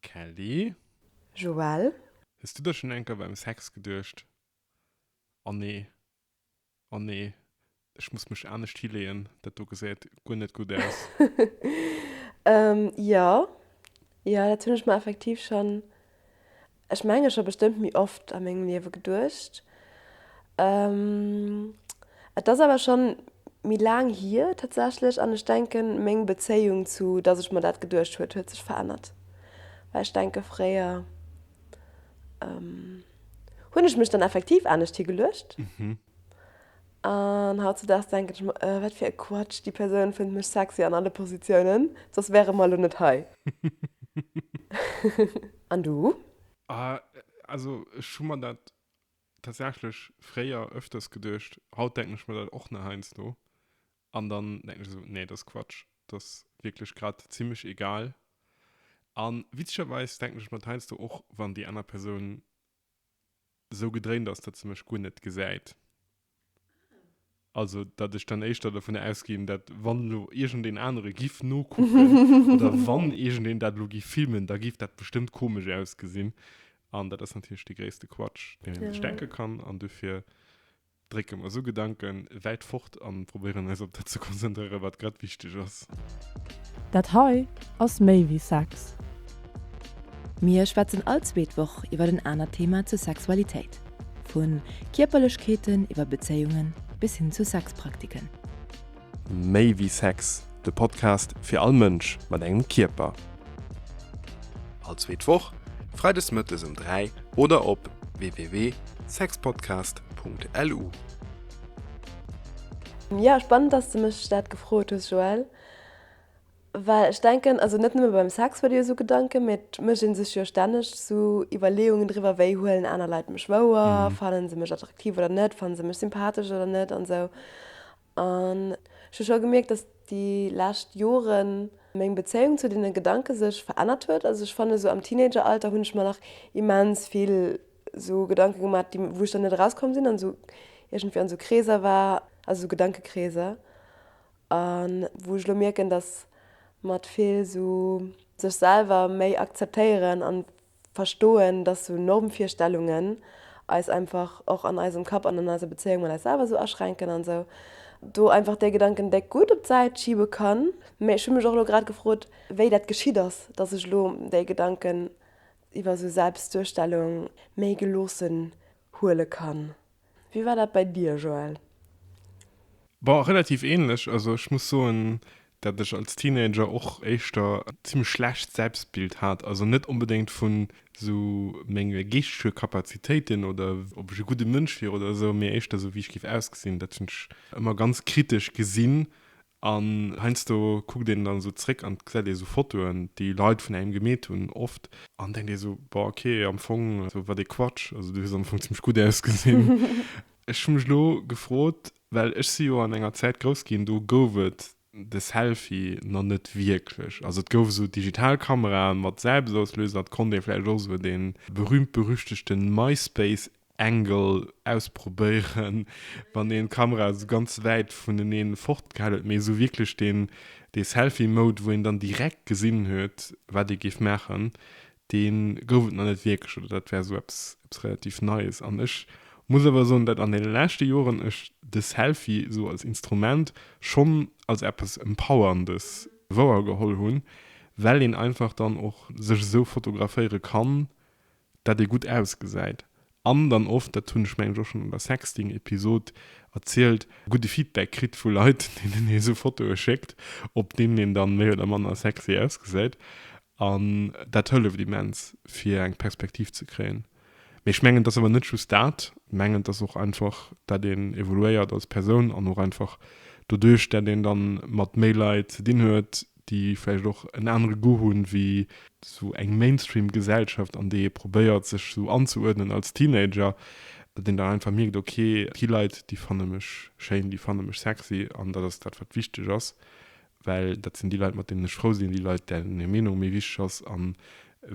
Kelly. Joelle. Hues du der schon enker beim Sex geduecht? Anne. Anne, ech muss mech anescht hileeën, dat do gesäit guer net gutt aus. Jo, jo, dat hunn ech mer effektiv schon Ech mengen ech hu bestëmmt méi oft a mengem Liewe geduecht. Et ass awer schonn méi laang hier tatsächlech an ech denken meng Bezéiung zu dass ech mer dat geduecht huet huet sech verännert. Well ech denke fréier hunn ech mech dann effektiv anescht hi geluecht An hautzedaags denken ech mer, Äh, wat fir e Quatsch, déi Persoun fënnt mech sexy an alle Positiounen, soss wäre mer elo net hei. An du? Ah, also ech hu mer dat tatsächlech fréier öfters geduecht. Haut denken ech mer dat och nach heiansdo. An dann denken ech esou, Nee, dat ass Quatsch. Dat ass wierklech grad zimmlech egal. A witzegerweis denken ech mer dat heiansdo och, wann déi aner Persoun sou gedréint ass, datt se mech guer net gesäit. Also datt ech dann éischter dovunner ausginn, datt wann elo iergendeen anere giff nokucken oder wann iergendeen dat elo giff filmen, da giff dat bestëmmt komesch ausgesinn. An dat ass natierlech dee gréisste Quatsch, deen een sech denke kann. An dofir. Drécke mer esou Gedanke wäit fort a probéieren eis op dat ze konzentréieren, wat grad wichteg ass. Dat hei ass méi wéi Sex. Mir schwätzen all zweet Woch iwwer en anert Thema zur Sexualitéit, vu Kierperlechkeeten iwwer Bezéiungen bis hin zu Sexpraktiken. Méi wéi Sex, de Podcast fir all Mënsch mat engem Kierper. All zweet Woch, freides mëttes um 3 oder op www.sexpodcast.lu. Jo, spannend dass de mech dat gefrot hues Joëlle, well ech denken, also net nëmme beim Sex huet ee jo sou Gedanken, mee et mécht ee sech jo stänneg sou Iwwerleeungen driwwer, wéi huelen aner Leit mech wouer, fannen se mech attraktiv oder net, fannen se mech sympathesch oder net an sou. An ech hu scho gemierkt, dass déi lescht Joren meng Bezéiung zu deene Gedanke sech verännert huet. Also ech fannen, esou am Teenageralter hunn ech mer nach immens vill esou Gedanke gemaach, déi, wou ech dann net erauskomm sinn an esou iergendwéi an esou Kreeser war, also esou Gedankekreeser. A wou ech elo mierken, dass mat vill esou sech selwer méi akzeptéieren an verstoen, dass sou Normvirstellungen eis einfach och an eisem Kapp an an eiser Bezéiung mat eis selwer sou aschränken an sou do einfach dee Gedanken déck gutt op d'Säit schibe kann. Mee ech hu mech och elo grad gefrot, wéi dat geschitt ass, dass ech elo déi Gedanken iwwer sou Selbstduerstellung méi geloossen huele kann. Wéi war dat bei dir, Joël? Bon, relativ ähnlech. Also ech muss soen, dat ech als Teenager och éischter zimmlech schlecht Selbstbild hat. Also net onbedéngt vun sou menge geeschtege Kapazitéiten oder ob ech e gudde Mënsch wier oder sou, mee éischter sou wéi ech géif ausgesinn. Dat hunn ech ëmmer ganz kritesch gesinn An heiansdo kuckt een dann esou zréck an gesäit ee sou Fotoen, déi Leit vun engem gemeet hunn, oft, an denkt ee sou, Boah, okay, am Fong, sou, wat ee Quatsch, also du hues am Fong zimmlech gutt ausgesinn. Ech hu mech elo gefrot, well ech si jo an enger Zäit grouss ginn, do gouf et de Selfie nach net wierklech. Also et gouf esou digital Kameraen mat Selbstauslöser, et konnt ee vläicht och esou dee berühmt-berüchtegte Myspace Angle ausprobéieren wann een d'Kamera sou ganz wäit vuneneen fort gehaal huet, mee sou wierklech deen dee Selfie Mode wou een dann direkt gesinn huet wat ee géif maachen deen gouf et nach net wierklech oder dat war sou eppes eppes relativ neies an ech muss awer soen dat an den leschte Joeren ech de Selfie sou als Instrument schonn als eppes empowerndes wouergeholl hunn well een einfach dann och sech sou fotograféiere kann dat ee gutt ausgesäit an dann oft, dat hunn ech mengen ech och schonn an der Sexting Episod erzielt, gudde Feedback kritt vu Leit deenen ee sou Fotoe schéckt op deenen een dann méi oder manner sexy ausgesäit an dat hëlleft immens fir eng Perspektiv ze kréien. Mee ech mengen et ass awer net just dat, mengen et ass och einfach dat een evoluéiert als Persoun an och einfach doduerch dat een dann mat méi Leit ze dinn huet, déi vläicht och en anere Goût hunn, ewéi esou eng Mainstream-Gesellschaft, an déi ee probéiert, sech esou anzeuerdnen als Teenager, datt een dann einfach mierkt, ok, déi Leit, déi fanne mech schéin, déi fanne mech sexy, an dat ass dat, wat wichteg ass, well dat sinn déi Leit, mat deenen ech frou sinn, déi Leit, deenen hir Meenung méi wichteg ass, a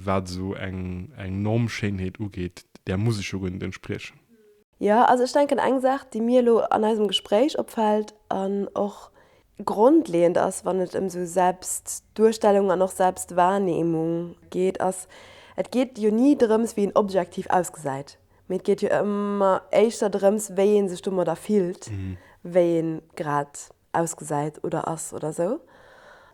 wat esou eng Normschéinheet ugeet, där muss ech jo guer net entspriechen. Jo, also ech denken, eng Saach, déi mir elo an eisem Gespréich opfält an och grondleeënd ass, wann et ëm sou Selbstduerstellung an och Selbstwahrnehmung geet, ass, Et geet jo ni drëms, wéi een objektiv ausgesäit, mee et geet jo ëmmer éischter drëms, wéi ee sech domadder fillt, wéi ee grad ausgesäit oder ass oder sou.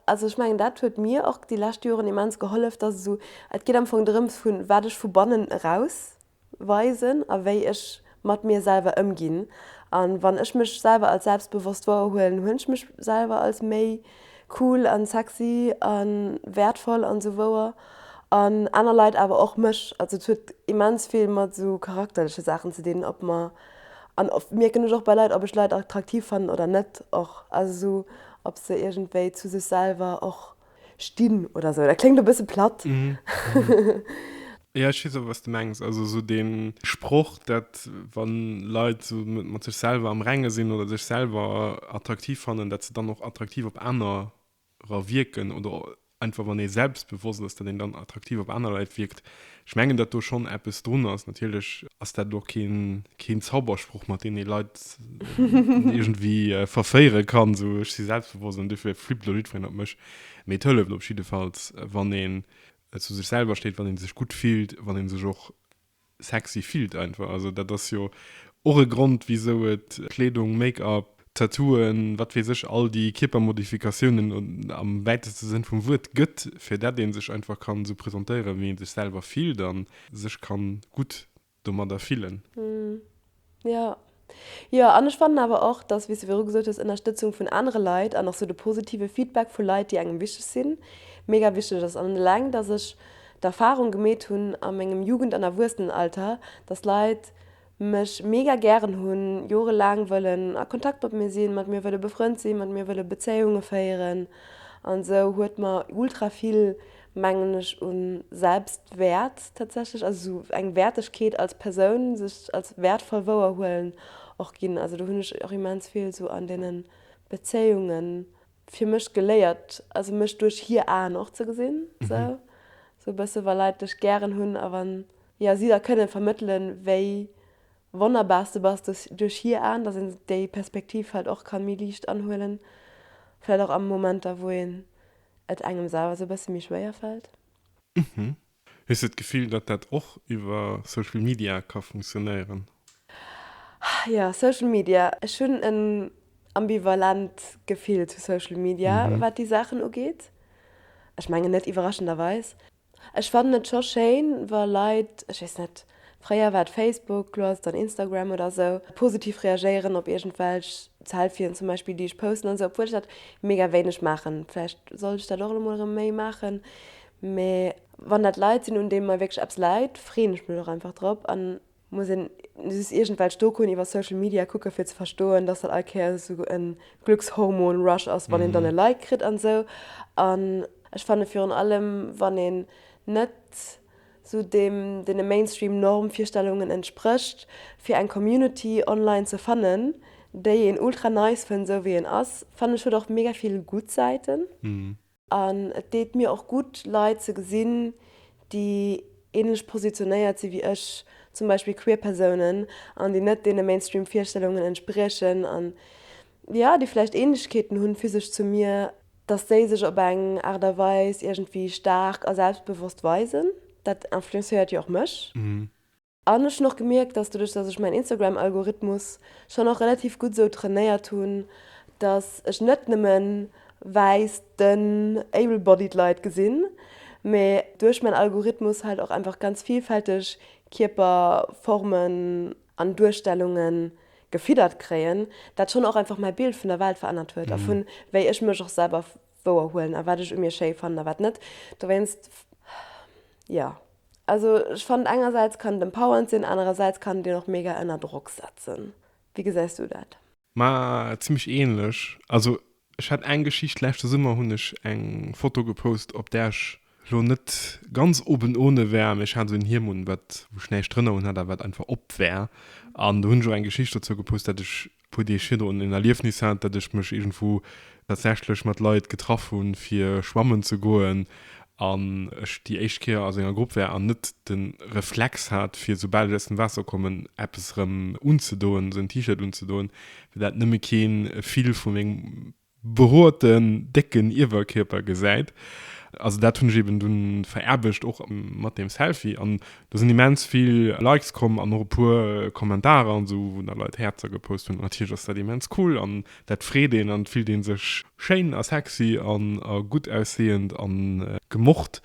Also ech mengen, dat huet mir och déi lescht Joren immens gehollef, dass esou, et geet am Fong drëms, vun wat ech vu bannen eraus weisen a wéi ech mat mir selwer ëmginn. A wann ech mech selwer als selbstbewosst wouer huelen, huelen ech mech selwer als méi cool an sexy an wäertvoll an esou wouer. An aner Leit awer och mech. Also et huet immens vill mat esou charakterleche Saachen ze dinn, ob mer, an oft mierken ech och bei Leit, ob ech Leit attraktiv fannen oder net och. Also esou ob se iergendwéi zu sech selwer och Stinn oder sou. Dat kléngt e bësse platt. Jo, ech weess awer, wat s de mengs. Also sou dee Sproch, dat wa Leit sou mat sech selwer am Renge sinn oder sech selwer attraktiv fannen, dat se dann och attraktiv op anerer wierken oder einfach wann ee selbstbewosst ass, dat een dann attraktiv op aner Leit wierkt. Ech mengen, datt do schonn eppes drun ass. Natierlech ass dat elo keen Zaubersproch, mat deem ee Leit iergendwéi verféiere kann, esou ech si selbstbewosst an duerfir flippt elo jiddwereen op mech. Mee et hëlleft op jiddefalls, wann een zu sech selwer steet, wann ee sech gutt fillt, wann ee sech och sexy fillt einfach. Also dat ass jo och e Grond, wisou et Kleedung, Make-up, Tattooen, wat weess ech, all déi Kierpermodifikatiounen am wäiteste Sënn vum Wuert gëtt, fir dat ee sech einfach kann esou presentéieren, wéi ee sech selwer fillt a sech kann gutt domadder fillen. Jo, jo. An ech fannen awer och, dass, wéi s de viru gesot hues, Ënnerstëtzung vun anere Leit an och esou de positive Feedback vu Leit, déi engem wichteg sinn, mega wichteg ass. An eleng, dass ech d'Erfarung gemeet hunn a mengem Jugend an Erwuessenenalter, dass Leit mech mega gären hunn, jorelaang wëllen a Kontakt mat mir sinn, mat mir wëlle befrënnt sinn, mat mir wëlle Bezéiunge féieren an esou huet mer ultra vill, mengen ech, u Selbstwäert tatsächlech, also esou eng Wäertegkeet als Persoun, sech als wäertvoll wouerhuelen, och ginn. Also do hunn ech och immens vill esou an deene Bezéiungen fir mech geléiert, also mech duerch hir Aen och ze gesinn, sou sou e bësse wa Leit dech gären hunn a wann, jo, si da kënne vermëttelen, wéi wonnerbar s de bass duerch duerch hir Aen, dass een déi Perspektiv vläicht och ka méi liicht anhuelen, vläicht och a Momenter, wou een et engem selwer sou e bësse méi schwéier fält. Hues de d'Gefill, datt dat och iwwer Social Media ka funktionéieren? Jo, Social Media, ech hunn en ambivalent Gefill zu Social Media, wat déi Saachen ugeet. Ech mengen net iwwerraschenderweis. Ech fannen et scho schéin, wa Leit, ech weess net, fréier war et Facebook, elo ass et dann Instagram oder esou, positiv reagéieren op iergendwelch Selfien zum Beispill, déi ech posten an esou, obwuel ech dat mega wéineg maachen. Vläicht sollt ech dat och elo mol erëm méi maachen. Mee wann dat Leit sinn, un deene mer wierklech eppes läit, freeën ech mech och einfach drop. A muss een just iergendwelch Dokuen iwwer Social Media kucken, fir ze verstoen, dass dat all Kéier esou e Glückshormon-Rush ass, wann een dann e Like kritt an esou. An ech fanne virun allem, wann een net esou deem, deene Mainstream-Normvirstellungen entsprécht, fir eng Community online ze fannen, déi een ultra nice fënnt, esou wéi een ass, fannen ech huet och mega vill gutt Säiten. An et deet mir och gutt, Leit ze gesinn, déi ähnlech positionéiert si wéi ech, zum Beispill queer Persounen, an déi net deene Mainstream Virstellungen entspriechen, an jo, déi vläicht Ähnlechkeeten hunn, physesch, zu mir, dass déi sech op eng Aart a Weis iergendwéi staark a selbstbewosst weisen. Dat influencéiert jo och mech. An ech hun och gemierkt, dass doduerch dass ech mäin Instagram Algorithmus schon och relativ gutt esou trainéiert hun, dass ech net nëmmen wäiss dënn able bodied Leit gesinn, mee duerch mäin Algorithmus halt och einfach ganz vielfälteg Kierperformen an Duerstellungen gefiddert kréien, dat schon och einfach mäi Bild vun der Welt verännert huet a vun wéi ech mech och selwer wouer huelen a wat ech u mir schéi fannen a wat net. Dowéinst jo. Also ech fannen engersäits kann et empowernd sinn, anerersäits kann et een och mega ënner Drock setzen. Wéi gesäis du dat? Ma zimmlech ähnlech. Also ech hat eng Geschicht, leschte Summer hunn ech eng Foto gepost op där ech lo net ganz oben ohne war, mee ech hat esou en Hiem un wat wou ech näischt drënner un hat a wat einfach op war an do hunn ech och eng Geschicht dozou gepost dat ech Hutt Dir virdu en Erliefnis hat, datt ech mech iergendwou tatsächlech mat Leit getraff hu fir schwammen ze goen an ech déi éischt Kéier a senger Grupp war an net de Reflex hat fir soubal ech aus dem Waasser kommen eppes erëm unzedoen, esou en T-Shirt unzedoen, fir dat nëmme kee vill vu mengem beroten décken Iewerkierper gesäit. Also dat hunn ech eben dunn vererbegt och mat deem Selfie an do sinn immens vill Likes komm an och e puer Kommentarer an esou wou da Leit Häerzer gepost hunn an natierlech ass dat immens cool an dat freet een an et fillt een sech schéin a sexy an a gutt ausseeënd an gemocht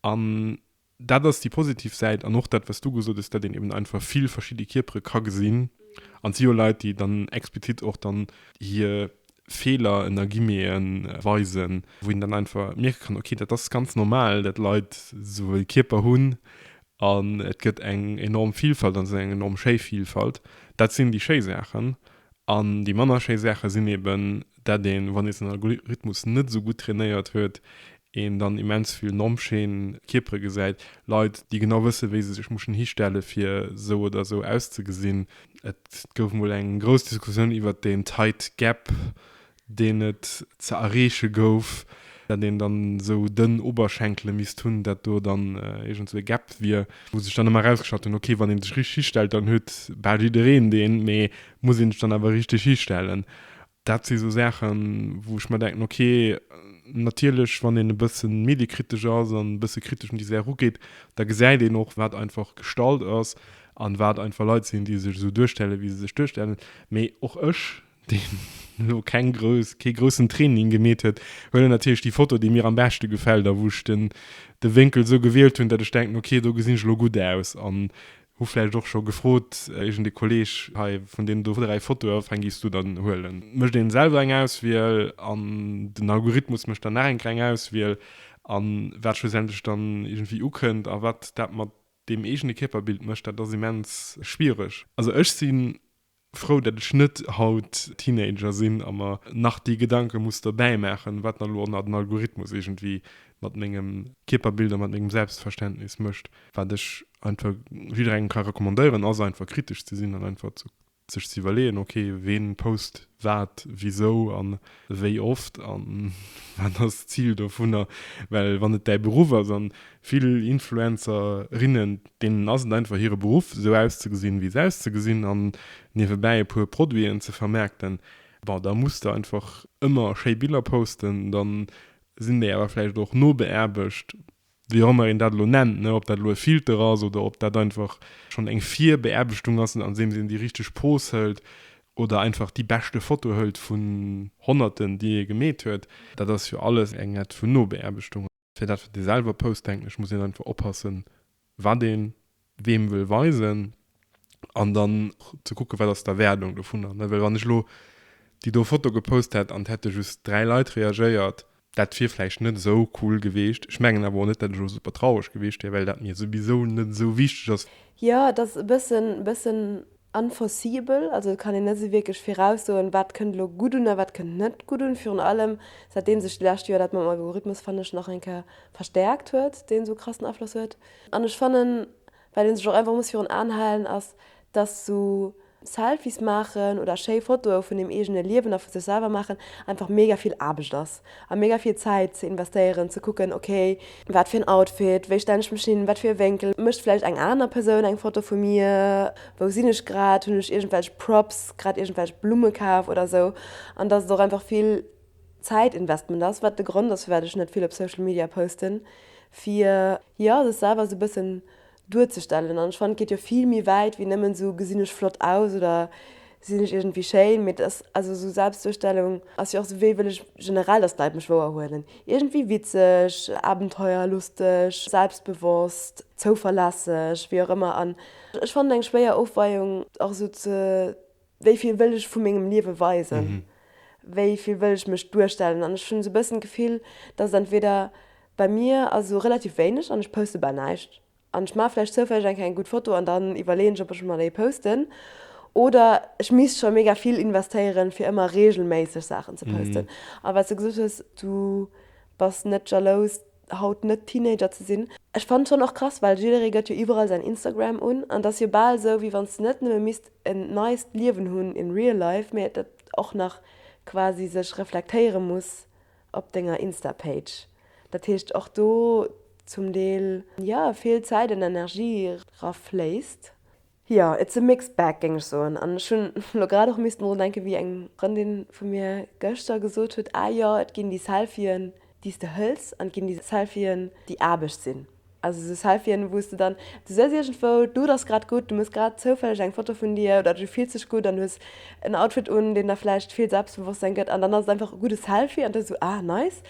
an Dat ass déi positiv Säit an och dat, wat s du gesot hues, datt een eben einfach vill verschidde Kierpere ka gesinn. An et si jo Leit, déi dann explizit och dann hir Feeler ënner Guillemete weisen, wou een dann einfach mierke kann, okay, dat ass ganz normal, datt Leit esou e Kierper hunn. An et gëtt eng enorm Vilfalt an et ass eng enorm schéi Vilfalt. Dat sinn déi schéi Saachen. An déi manner schéi Saache sinn eben, dat een, wann ee säin Algorithmus net esou gutt trainéiert huet, een dann immens vill normschéin Kierpere gesäit, Leit, déi genau wësse wéi se sech muschen histelle fir esou oder esou auszegesinn. Et gouf mol eng grouss Diskussioun iwwert den Tight Gap, deen et ze erreeche gouf, dat een dann esou dënn Oberschenkele misst hunn, dat do dann iergend esou e Gap wier, wou sech dann ëmmer erausgeschalt hunn, ok, wann ee sech richteg histellt, dann huet bal jiddereen deen, mee muss ee sech dann awer richteg histellen? Dat si sou Saachen, wou ech mer denken, ok, natierlech wann een e bësse mediekritesch ass an e bësse kritesch un déi Saach erugeet, da gesäit een och, wat einfach gestallt ass an wat einfach Leit sinn, déi sech esou duerstellen, wéi se sech duerstellen. Mee och ech deen elo keng grouss, kee groussen Training gemeet huet, huet en natierlech déi Foto, déi mir am beschte gefält a wou ech den, de Wénkel esou gewielt hunn, datt ech denken, ok, do gesinn ech elo gutt aus. An hu vläicht och scho gefrot, iergend e Kolleeg, hei, vun deenen do dräi Fotoe, wéi eng giffs du dann huelen? Mécht ee selwer eng Auswiel an den Algorithmus mécht dann nach eng kleng Auswiel. A wat schlussendlech dann iergendwéi ukënnt a wat dat mat deem eegene Kierperbild mécht, dat ass immens schwiereg. Also ech sinn Frou dat ech net haut Teenager sinn a mer nach déi Gedanke muss dobäi maachen, wat nach lo nach den Algorithmus iergendwéi mat mengem Kierperbild a mat mengem Selbstverständnis mécht. Wat ech einfach jidderengem ka recommandéieren ass einfach kritesch ze sinn an einfach sech ze iwwerleeën, ok, ween post wat wisou an Wéi oft an wat ass d'Zil dovunner? Well wann et däi Beruff ass, an vill Influencerinnen, deenen ass et einfach hire Beruff esou auszegesinn wéi se auszegesinn an niewebäi e puer Produiten ze vermaarkten, bon da muss de einfach ëmmer schéi Biller posten, dann sinn déi awer vläicht och nobeaarbecht. wéi och ëmmer een dat elo nennt, ob dat elo e Filter ass oder ob dat einfach schonn eng Virbeaarbechtung ass, andeems een déi richteg Pose hëlt oder einfach déi beschte Foto hëlt vun Honnerten, déi ee gemeet huet. Dat ass jo alles eng Art vun Nobeaarbechtung. Fir dat, wat ee selwer post, denken ech, muss een einfach oppassen, wat ee weem wëll weisen an dann ze kucke wat ass d'Erwaardung dovunner, ne? Well wann ech elo déi do Foto gepost hätt an et hätte just dräi Leit reagéiert, dat wier vläicht net esou cool geweecht. Ech mengen awer och net, dat ech elo super traureg geweecht wier, well dat mir souwisou net esou wichteg ass. Jo, et ass e bëssen, bëssen. Unforeseeable, also et kann een net esou wierklech viraussoen, wat kënnt elo gutt un a wat kënnt net gutt un. Virun allem säitdeem sech déi lescht Joer dat mam Algorithmus, fannen ech, nach eng Kéier verstäerkt huet, deen esou krassen Afloss huet. An ech fannen, wat ee sech och einfach muss virun Aen halen, ass, dass esou Selfies maachen oder schéi Fotoe vun deem eegene Liewen a vu sech selwer maachen einfach mega vill Aarbecht ass. A mega vill Zäit ze investéieren, ze kucken, ok, wat fir en Outfit, wéi stellen ech mech hin, wat fir e Wénkel, mécht vläicht eng aner Persoun eng Foto vu mir, wou sinn ech grad, hunn ech iergendwelch Props, grad iergendwelch Blumme kaf oder esou. An dass et och einfach vill Zäitinvestment ass, wat de Grond ass firwat ech net vill op Social Media posten, fir jo sech selwer esou e bëssen duerzestellen an ech fannen et geet jo vill méi wäit wéi nëmmen esou gesinn ech flott aus oder sinn ech iergendwéi schéin, mee et ass also esou Selbstduerstellung ass jo och esou wéi wëll ech generell dass d'Leit mech wouer huelen, iergendwéi witzeg, abenteuerlusteg, selbstbewosst, zouverlässeg, wéi och ëmmer an ech fannen eng schwéier Ofweiung och esou ze. wéi vill wëll ech vu mengem Liewe weisen, wéi vill wëll ech mech duerstellen. An ech hunn esou e bëssen d'Gefill, dass et entweder, bei mir ass esou relativ wéineg an ech poste bal näischt an ech maache vläicht zoufälleg eng kéier eng gutt Foto an dann iwwerleeën ech, ob ech emol déi posten oder ech misst scho mega vill investéieren, fir ëmmer reegelméisseg Saachen ze posten. A wat s de gesot hues, du bass net jalous, haut net Teenager ze sinn. Ech fannen schonn och krass, well jidderee gëtt jo iwwerall säin Instagram un an et ass jo bal esou wéi wann s de net nëmme misst en neist Liewen hunn in real life, mee et och nach quasi sech reflektéiere muss op denger Insta-Page. Dat heescht och do zum Deel jo vill Zäit an Energie era fléisst. Jo, it's a mixed bag géing ech soen. An ech hunn elo grad och missen drun denken, wéi eng Frëndin vu mir gëschter gesot huet, ah jo, et ginn déi Selfien, déi s de hëls, an et ginn déi Selfien, déi Aarbecht sinn. Also esou Selfien, wou s de dann, du sëss iergendwou, d'Luucht ass grad gutt, du muss grad zoufälleg eng Foto vun dir, oder du fills dech gutt an hues en Outfit un, deen der vläicht vill Selbstbewosstsein gëtt, an dann ass et einfach e gudde Selfie an da sou, ah nice.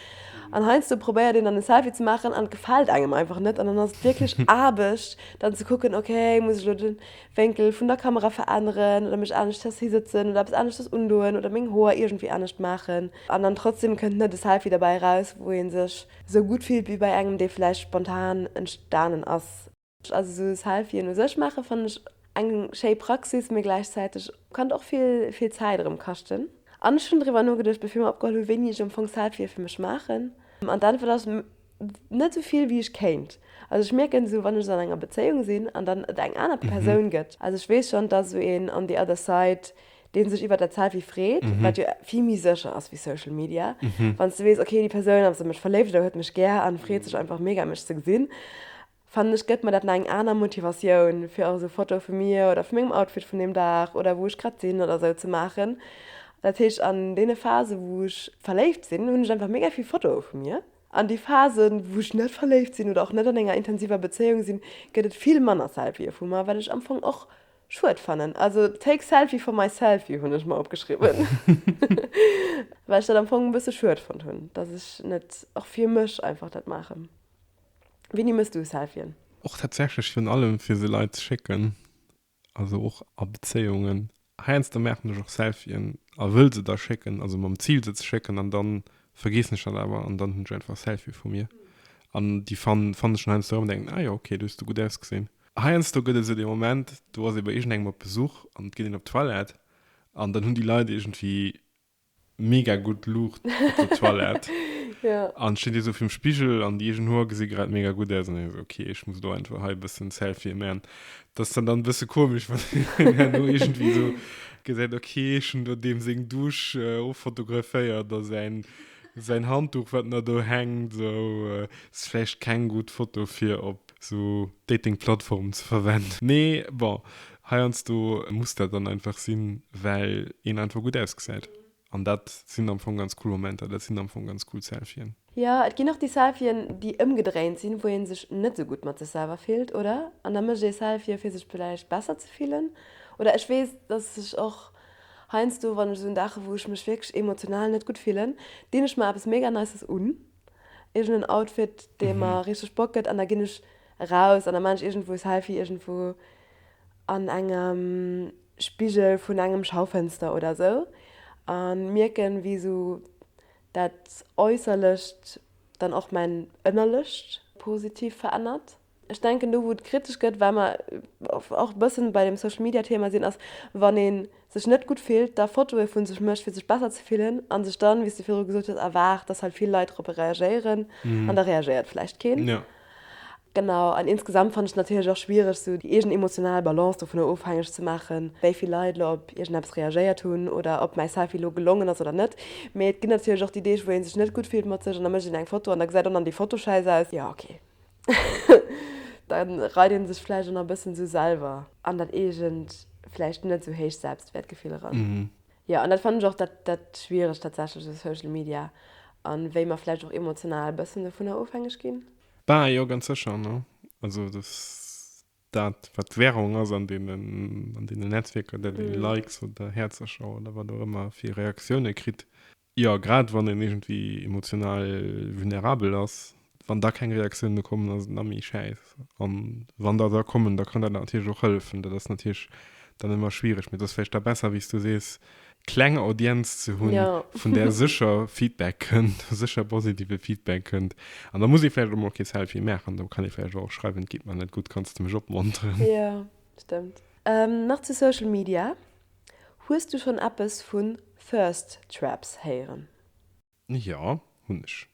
An heiansdo probéiert een dann en Selfie ze maachen an et gefält engem einfach net an dann ass et wierklech Aarbecht dann ze kucken, okay muss ech elo de Wénkel vun der Kamera veränneren oder mech aneschters hisëtzen oder eppes aneschters undoen oder meng Hoer iergendwéi anescht maachen. An dann trotzdeem kënnt net e Selfie derbäi eraus, wou ee sech esou gutt fillt wéi bei engem, dee vläicht spontan entstanen ass. Also sou Selfien u sech maachen fannen ech eng schéi Praxis, mee gläichzäiteg kann och vill vill Zäit erëm kaschten. An ech hunn driwwer nogeduecht bevir mer opgeholl hunn, wéini ech am Fong Selfië fir mech maachen. An d'Äntwert ass, net sou vill wéi ech kéint. Also ech mierken esou wann ech esou an enger Bezéiung sinn an dann et eng aner Persoun gëtt, also ech weess schonn dass esou een on the other side dee sech iwwert dat Selfie freet, wat jo vill méi sécher ass wéi Social Media, wann s de weess ok déi Persoun ass an mech verléift oder huet mech gär an freet sech einfach mega mech ze gesinn. Fannen ech gëtt mer dat nach eng aner Motivatioun fir och esou Fotoe vu mir oder vu mengem Outfit vun deem Dag oder wou ech grad sinn oder esou ze maachen. Dat heescht an deene Phase wou ech verléift sinn hunn ech einfach mega vill Fotoe vu mir. An déi Phasen wou ech net verléift sinn oder och net an enger intensiver Bezéiung sinn gëtt et vill manner Selfië vu mer, wat ech am Fong och schued fannen. Also take selfie for my selfie hunn ech mer opgeschriwwen well ech dat am Fong e bësse schued fonnt hunn, datt ech net och fir mech einfach dat maachen. Winnie mëss du Selfien? Och tatsächlech virun allem fir se Leit ze schécken, also och a Bezéiungen. Heiansdo maachen ech och Selfien a wëll se da schécken, also mam Zil se ze schécken an dann vergeessen ech dat awer an dann hunn ech einfach e Selfie vu mir an déi fannen fannen ech dann heiansdo erëm an denken, ah jo ok, do hues de gutt ausgesinn. Heiansdo gëtt et esou dee Moment, do ass ee bei iergendengem op Besuch an et geet een op d'Toilette an dann hunn déi Leit iergendwéi mega gudd Luucht op der Toilette an stinn déi sou virum Spigel an déi eegen Hoer gesi grad mega gudd aus an denken sou okay ech muss lo einfach hei e bëssen Selfie man. Dat ass dann dann e bësse komesch wann een herno iergendwéi sou gesäit okay ech hunn do deem seng Douche offotograféiert a säin säin Handduch wat na do hänkt sou ass vläicht keng gudd Foto fir op sou Dating Plattformen ze verwenden. Mee bon Heiansdo muss dat dann einfach sinn, well een einfach gutt ausgesäit. An dat sinn am Fong ganz cool Momenter, dat sinn am Fong ganz cool Selfien. Jo, et ginn och déi Selfien, déi ëmgedréint sinn, wou ee sech net esou gutt mat sech selwer fillt, oder? An da mécht ee Selfie, fir sech vläicht besser ze fillen. Oder ech weess, dass ech och heiansdo, wann ech esou un Daache wou ech mech wierklech emotional net gutt fillen, dinn ech mer eppes mega Nices un. iergenden Outfit dee mer richteg Bock gëtt an da ginn ech raus an da maan ech iergendwou Selfie iergendwou an engem Spigel vun engem Schaufënster oder esou an mierken wéi esou dat Äusserlecht dann och mäin Ënnerlecht positiv verännert. Ech denken, do wou et kritesch gëtt, well mer och e bëssen bei deem Social Media Thema sinn, ass wann ee sech net gutt fillt, da Fotoe vu sech mécht fir sech besser ze fillen a sech dann, wéi s de viru gesot hues, erwaart, datt hei vill Leit dorobber reagéieren an da reagéiert vläicht keen. Genau, an insgesamt fannen ech et natierlech och schwiereg esou déi eegen emotional Balance dovunner ofhängeg ze maachen, wéi vill Leit elo op iergendeppes reagéiert hunn oder ob mäi Selfie elo gelongen ass oder net. Mee et ginn natierlech och déi Deeg wou ee sech net gutt fillt mat sech an da mécht een eng Foto an da gesäit och nach déi Foto schäiss aus. Jo, ok. da reit een sech vläicht och nach e bëssen esou selwer an dat eegent, vläicht net esou héicht Selbstwäertgefill eran. Jo, an dat fannen ech och dat schwieregt tatsächlech u Social Media a wéi mer vläicht och emotional e bëssen dovunner ofhängeg ginn. Bah, jo, ganz sécher, ne? Also dass dat, wat d'Währung ass an deenen Netzwierker, dat ee Likes oder Häerzercher oder wat och ëmmer fir Reaktiounen kritt, Jo, grad wann een iergendwéi emotional vulnerabel ass, wann da keng Reaktioun méi kommen, ass et nach méi schäiss. A wann der da kommen, da kann dat natierlech och hëllefen. Dat ass natierlech dann ëmmer schwiereg, mee et ass vläicht da besser, wéi s du sees, kleng Audienz ze hunn, vun där sécher Feedback kënnt, sécher positive Feedback kënnt. An da muss ee vläicht och mol kee Selfie maachen, da kann ee vläicht och schreiwen, Et geet mer net gutt, kanns de mech opmonteren? Jo, stëmmt. Nach zu Social Media, Hues du schon eppes vu Thirst Traps héieren? Jo, hunn ech.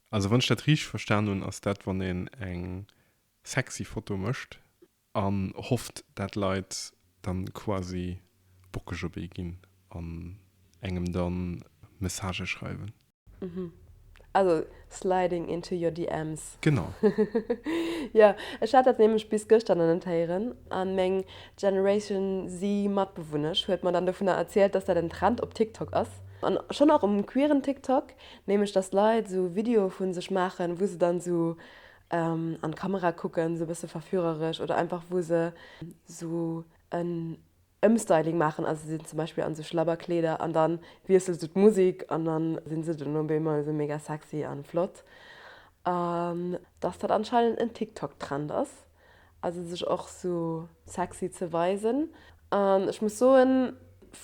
Also wann ech dat riichteg verstan hunn, ass dat wann een eng sexy Foto mécht an hofft dat Leit dann quasi bockeg op ee ginn an engem dann Messagë schreiwen. Also sliding into your DMs. Genau. Jo, ech hat dat nämlech bis gëschter nach net héieren an meng Generation Z Matbewunnesch huet mer dann dovunner erzielt, dass dat en Trend op TikTok ass an schonn och um queeren TikTok, nämlech dass Leit esou Videoe vu sech maachen, wou se dann esou an d'Kamera kucken, esou e bësse verführeresch oder einfach wou se esou en Ëmstyling maachen, also sinn zum Beispill an esou Schlabberkleeder an dann wiessels du d'Musik an dann sinn se dunn op eemol esou mega sexy an flott. An dass dat anscheinend en TikTok Trend ass, also sech och esou sexy ze weisen an ech muss soen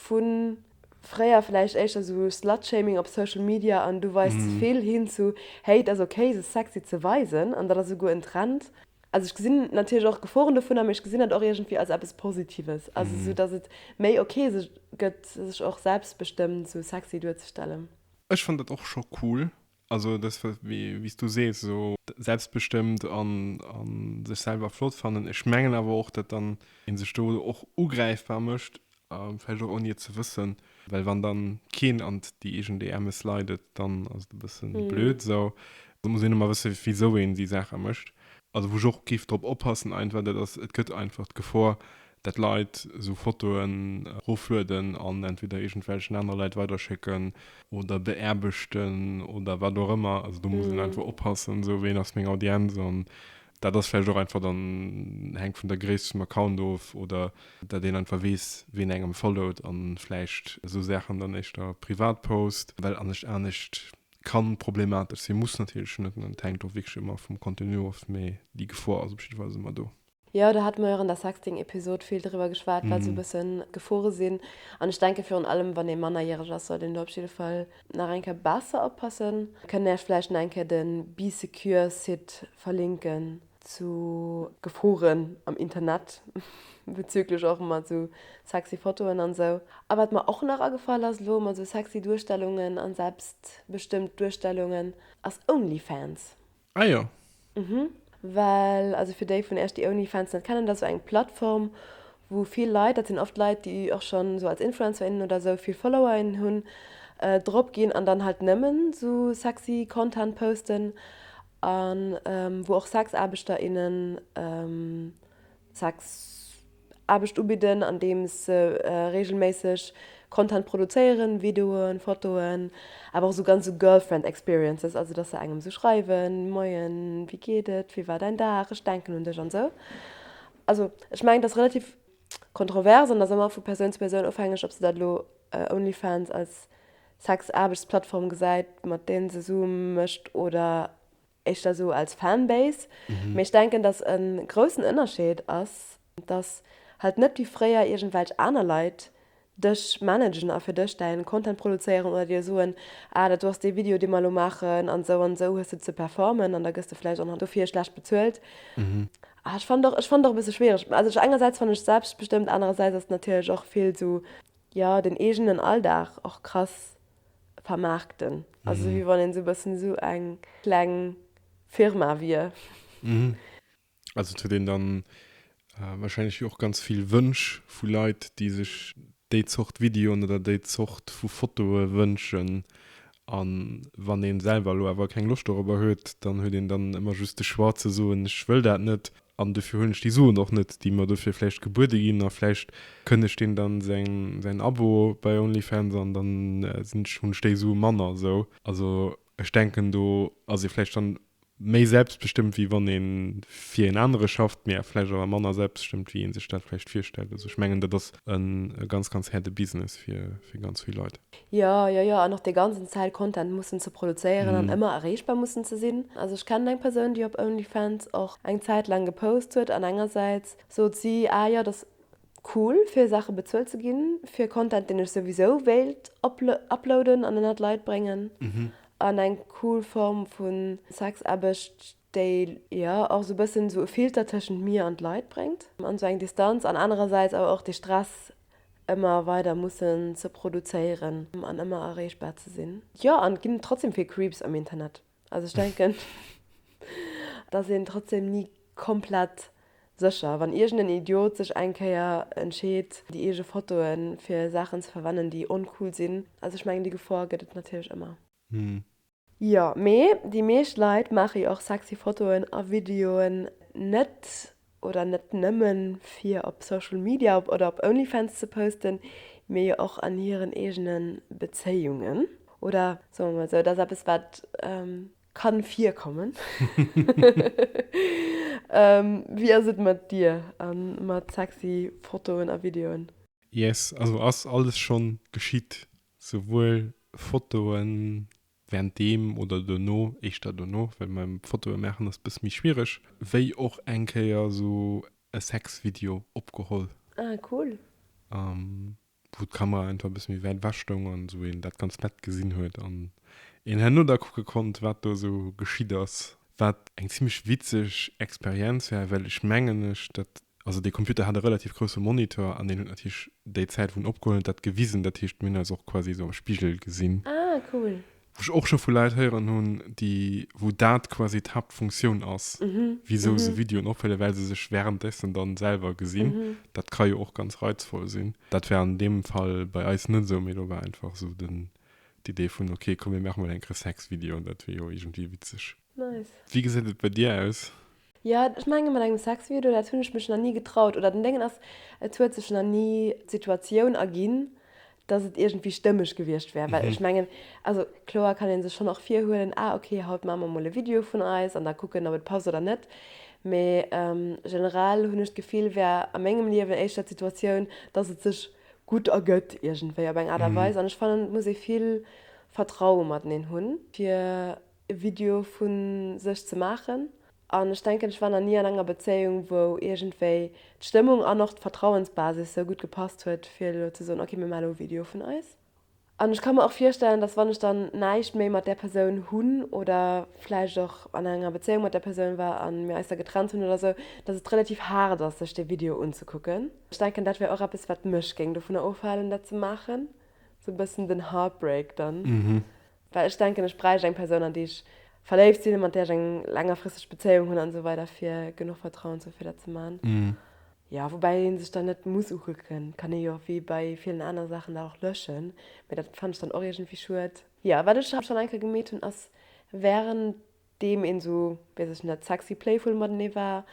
vun fréier vläicht éischter esou Slutshaming op Social Media an du weis ze vill hin zu hey et ass ok sech sexy ze weisen an dat ass esouguer en Trend, Also ech gesinn natierlech och Geforen dovunner, mee ech gesinn dat och iergendwéi als eppes Positives. Also esou, datt et méi ok gëtt, sech och selbstbestëmmt esou sexy duerzestellen. Ech fannen dat och scho cool. Also dat, wéi s du sees, esou selbstbestëmmt a sech selwer flott fannen. Ech mengen awer och, datt dann ee sech do och ugräifbar mécht. A vläicht och ouni et ze wëssen, well wann dann keen an déi eegen DMe slidet, dann ass et e bëssen blöd. Esou muss een ëmmer wëssen, wisou een déi Saache mécht. Also wou ech och géif drop oppassen einfach, dat ass, et gëtt einfach d'Gefor, dat Leit esou Fotoen eroflueden an entweder iergendwelchen aner Leit weiderschécken oder beaarbechten oder wat och ëmmer. Also do muss een einfach oppassen, esou, ween ass meng Audienz an Dat ass vläicht och einfach dann, hänkt vun der Gréisst vum Account of, oder dat een einfach weess, ween engem followt an vläicht esou Saachen dann éischter privat post, well anescht anescht kann problematesch sinn. Muss natierlech net, an et hänkt och wierklech ëmmer vum Contenu of, mee déi Gefor ass op jidde Fall ass ëmmer do. Jo, do hate mer jo och an der Sexting-Episod vill driwwer geschwat, wat esou e bëssen d'Gefore sinn. An ech denke virun allem, wann ee mannerjäreg ass, sollt een do op jidde Fall Nach eng Kéier besser oppassen. Kënnt Är vläicht nach eng Kéier de Bee Secure Site verlinken zu. Geforen am Internet bezüglech och mat esou sexy Fotoen an esou. A wat mer och nach agefall ass elo mat esou sexy Duerstellungen an selbstbestëmmt Duerstellungen ass Onlyfans. Ah jo. Mhm. Well, also fir déi vun Iech, déi OnlyFans net kennen, dat ass esou eng Plattform, wou vill Leit, dat sinn oft Leit, déi och schonn esou als Influencer, innen oder esou vill Follower, innen hunn, drop ginn an dann halt nëmmen esou sexy Content posten, a wou och Sexaarbechter, innen Sexaarbecht ubidden, andeem se reegelméisseg Content produzéieren, Videoen, Fotoen, awer och esou ganz esou Girlfriend Experiences, also dass se engem esou schreiwen, Moien, wéi geet et, wéi war däin Dag, ech denken un dech an esou. Also ech mengen et ass relativ kontrovers an ass ëmmer vu Persoun zu Persoun ofhängeg, ob se dat elo Onlyfans als Sexaarbechtsplattform gesäit, mat deem se esou mécht oder. Éischter sou als Fanbase. Mee ech denken, dass e groussen Ënnerscheed ass, dass halt net wéi fréier iergendwelch aner Leit dech managen a fir dech däin Content produzéieren oder dir soen, ah dat do ass dee Video, dee mer elo maachen an esou an esou hues de ze performen an da gëss de vläicht och nach dofir schlecht bezuelt. Ah ech fannen och, ech fannen och e bësse schwiereg. Also ech, engersäits fannen ech et selbstbestëmmt, anerersäits ass et natierlech och vill sou, jo, den eegenen Alldag och krass vermaarkten. Also esou wéi wann een esou e bëssen esou eng kleng Firma wier. Also et huet een da wahrscheinlech jo och ganz vill Wënsch vu Leit, déi sech déi Zort Videoen oder déi Zort vu Fotoe wënschen. A wann ee selwer elo awer keng Loscht dorobber huet, dann huet een dann ëmmer just de Choix ze soen, ech wëll dat net. An dofir huelen ech déi Suen och net, déi mer dofir vläicht gebuede ginn. A vläicht kënnegt een dann säin Abo bei Onlyfans an dann hunn ech déi Sue manner. Esou also ech denken do ass ee vläicht dann méi selbstbestëmmt wéi wann een fir een anere schafft, mee vläicht awer manner selbstbestëmmt wéi een sech dat vläicht virstellt. Also ech mengen dat ass e ganz ganz häerde Business fir ganz vill Leit. Jo, jo, jo, an och dee ganzen Zäit Content mussen ze produzéieren an ëmmer erreechbar mussen ze sinn. Also ech kennen eng Persoun, déi op OnlyFans och eng Zäit laang gepost huet an engersäits sot si, ah jo, et ass cool fir Saache bezuelt ze ginn, fir Content, deen ech souwisou wéilt uploaden an ënnert d'Leit bréngen, an eng cool Form vu Sexaarbecht. déi jo och esou e bëssen esou e Filter tëschent mir an d'Leit bréngt, an esou eng Distanz, an anerersäits awer och dee Stress ëmmer weider mussen ze produzéieren an ëmmer erreechbar ze sinn. Jo, an et ginn trotzdem vill Creeps am Internet. Also ech denken, dass een trotzdem ni komplett sécher, wann iergend en Idiot sech eng Kéier entscheet déi eege Fotoe fir Saachen ze verwennen déi oncool sinn, also ech mengen déi Gefor gëtt et natierlech ëmmer. Hm. Jo, mee déi meescht Leit maache jo och sexy Fotoen a Videoen net oder net nëmme fir op Social Media op oder op Onlyfans ze posten, mee jo och an hiren eegene Bezéiungen. Oder soe mer mol sou, et ass eppes wat ka virkommen. Wéi ass et mat dir a mat sexy Fotoen a Videoen? Yes, also ass alles schonn geschitt. Souwuel Fotoe während deem oder dono, éischter dono, well mam Fotoe maachen ass e bësse méi schwiereg, wéi och eng Kéier esou e Sexvideo opgeholl. Ah cool. Wou d'Kamera einfach e bësse méi wäit ewech stoung an esou een dat ganz nett gesinn huet an een herno da kucke konnt, wat do esou geschitt ass. Wat eng zimmlech witzeg Experienz war, well ech mengen ech dat Also dee Computer hat e relativ grousse Monitor an deen huet natierlech déi Zäit, wou en opgeholl huet, dat gewisen. Dat heescht, mir hunn eis och quasi esou am Spigel gesinn. Ah, cool. Wou ech och scho vu Leit héieren hunn, déi, wou dat quasi d'Haaptfunktioun ass, wisou se Videoen ophëllen, well se sech wärenddessen dann selwer gesinn. Dat ka jo och ganz reizvoll sinn. Dat war an deem Fall bei eis net esou, mee do war einfach esou den, d'Idee vun, ok, komm, mir maache mol enk e Sexvideo, dat wier jo iergendwéi witzeg. Nice. Wéi geséit et bei dir aus? Jo, ech mengen mat engem Sexvideo, dat hunn ech mech nach ni getraut. Oder den Déngen ass, et huet sech nach ni d'Situatioun erginn, dass et iergendwéi stëmmeg gewiescht wär. Well ech mengen, also kloer kann ee sech schonn och virhuelen, ah ok, haut maache mer mol e Video vun eis an da kucken, ob et passt oder net. Mee generell hunn ech d'Gefill, wär a mengem Liewen éischter d'Situatioun, dass et sech gutt ergëtt iergendwéi op eng Aart a Weis. An ech fannen, et muss ee vill Vertraue mateneen hunn, fir e Video vu sech ze maachen an ech denken ech war nach ni an enger Bezéiung wou iergendwéi d'Stëmmung an och d'Vertrauensbasis sou gutt gepasst huet fir elo ze soen ok mir maache elo e Video vun eis. An ech ka mer och virstellen, datt wann ech dann näischt méi mat där Persoun hunn oder vläicht och an enger Bezéiung mat där Persoun war a mir eis da getrennt hunn oder sou, datt et relativ haart ass sech dee Video unzekucken. Ech denken dat wär och eppes wat mech géing dovunner ofhalen dat ze maachen, sou e bëssen den Heartbreak dann. Well ech denken, ech bräicht eng Persoun, an déi ech verléift sinn, mat där ech eng längerfristeg Bezéiung hunn an esou weider fir genuch Vertrauen ze hu fir dat ze man. Jo, woubäi ee sech dann net muss ukucken, et kann ee jo wéi bei villen anere Saachen dat och löschen, mee dat fannen ech dann och iergendwéi schued. Jo, wat ech schonn eng Kéier gemeet hunn ass wärend deem een esou, weess ech net, sexy playful matenee war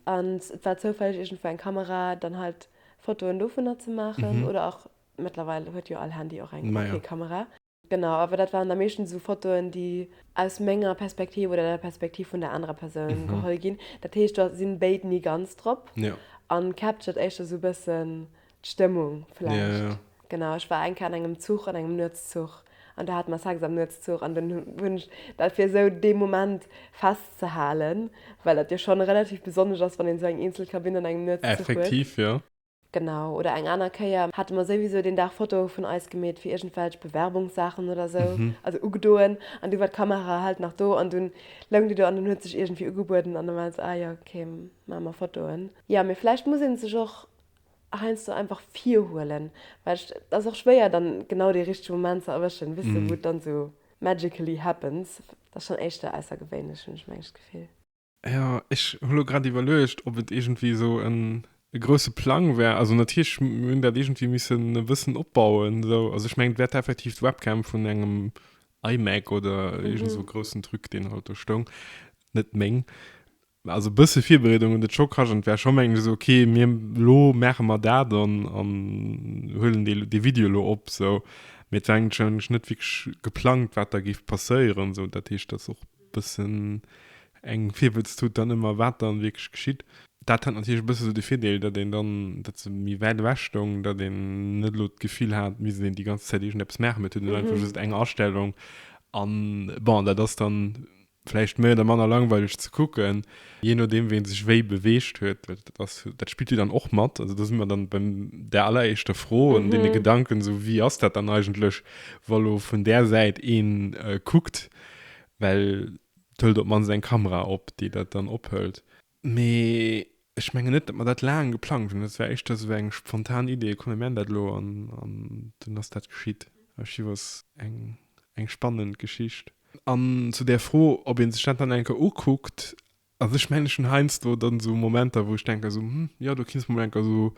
an et war zoufälleg iergendwou eng Kamera, dann halt Fotoen dovunner ze maachen oder och, mëttlerweil huet jo all Handy och eng Kamera. Genau, awer dat waren da meeschtens esou Fotoen, déi aus menger Perspektiv oder der Perspektiv vun der anerer Persoun geholl ginn. Dat heescht, do sinn béid ni ganz drop Ja. an captured éischter esou e bëssen d'Stëmmung Ja, vläicht. ja. Genau, ech war eng Kéier an engem Zuch, an engem Nuetszuch, an do hate mer Sex am Nuetszuch an dunn hunn ech dat fir esou dee Moment festzehalen, well dat jo schonn relativ besonnesch ass, wann een esou eng eenzel Kabinn an engem Nuetszuch huet. Effektiv, jo. Genau, oder eng aner Kéier hate mer souwisou deen Dag Fotoe vun eis gemeet fir iergendwelch Bewerbungssaachen oder sou, also ugedoen, an du war d'Kamera halt nach do an dunn loung déi do an dunn huet sech iergendwéi ugebueden an da war et sou, ah jo, ok, maache mer Fotoen. Jo, mee vläicht muss ee sech och heiansdo einfach virhuelen, well et ass och schwéier dann genau dee richtege Moment ze erwëschen, wéisst de, wou et dann sou magically happens. Et ass schonn éischter aussergewéinlech, hunn ech mengt d'Gefill. Ja, ech hu lo grad iwwerluecht, ob et iergendwéi esou en, e grousse Plang war. Also natierlech, mir hunn dat iergendwéi missen e bëssen opbauen esou. Also ech mengen, et war effektiv d'Webcam vun engem iMac oder iergend esou e groussen Truc, deen halt do stoung, net meng. Also e bësse Virbereedung huet et scho kascht an et war scho, mengen ech, esou, okay, mir, elo maache mer dat an, an huelen dee, dee Video elo op esou. Mee et war eigentlech net wierklech geplangt, wat da géif passéieren esou. Dat heescht, dass och. bëssen eng Virwëlztut dann ëmmer, wat dann wierklech geschitt. Dat hat natierlech e bësse sou de Virdeel, datt een dann, datt se méi wäit ewech stoung, datt een net elo d'Gefill hat, et misst een déi ganz Zäit iergendeppes maachen, mee et huet een einfach just eng Astellung. An bon, dat ass dann vläicht méi oder manner langweileg ze kucken, jee nodeem wien sech wéi beweegt huet. Dat ass, dat spillt jo dann och mat. Also do si mer dann bei där alleréischter Fro an deene Gedanken, sou wéi ass dat dann eigentlech, wa lo vun där Säit ee kuckt, well et hëlt op d'mannst eng Kamera op, déi dat dann ophëlt. Mee ech mengen net, datt mer dat laang geplangt hunn. Dat war éischter esou eng spontan Idee, komm mir man dat elo an dunn ass dat geschitt. Archivos, eng spannend Geschicht. An zu där Fro, ob ee sech dat dann eng Kéier ukuckt, Also ech mengen ech hunn heiansdo dann esou Momenter wou ech denken esou, hm, jo do kinns de mol enker esou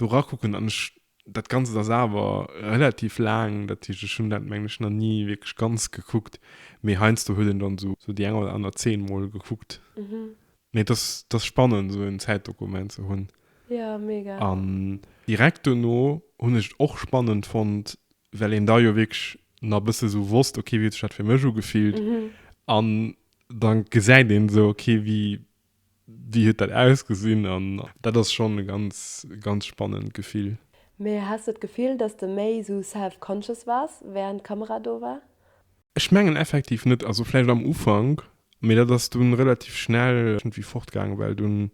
do rakucken an ech, dat ganzt ass awer relativ laang, dat heescht ech hunn dat mengen ech nach ni wierklech ganz gekuckt, mee heiansdo huet een dann esou esou déi eng oder aner Zeen mol gekuckt. Mee et ass et ass spannend esou en Zäitdokument ze hunn. Jo, mega. An direkt dono hunn ech et och spannend fonnt, well een da jo wierklech nach e bësse esou wosst, ok wéi huet sech dat fir mech ugefillt an Dann gesäit een esou ok wéi wéi huet dat ausgesinn an dat ass schonn e ganz ganz spannend Gefill. Mee has de d'Gefill dass de méi esou self conscious wars während d'Kamera do war? Ech mengen effektiv net, also vläicht am Ufank, mee dat ass dunn relativ schnell iergendwéi fort gaangen, well dunn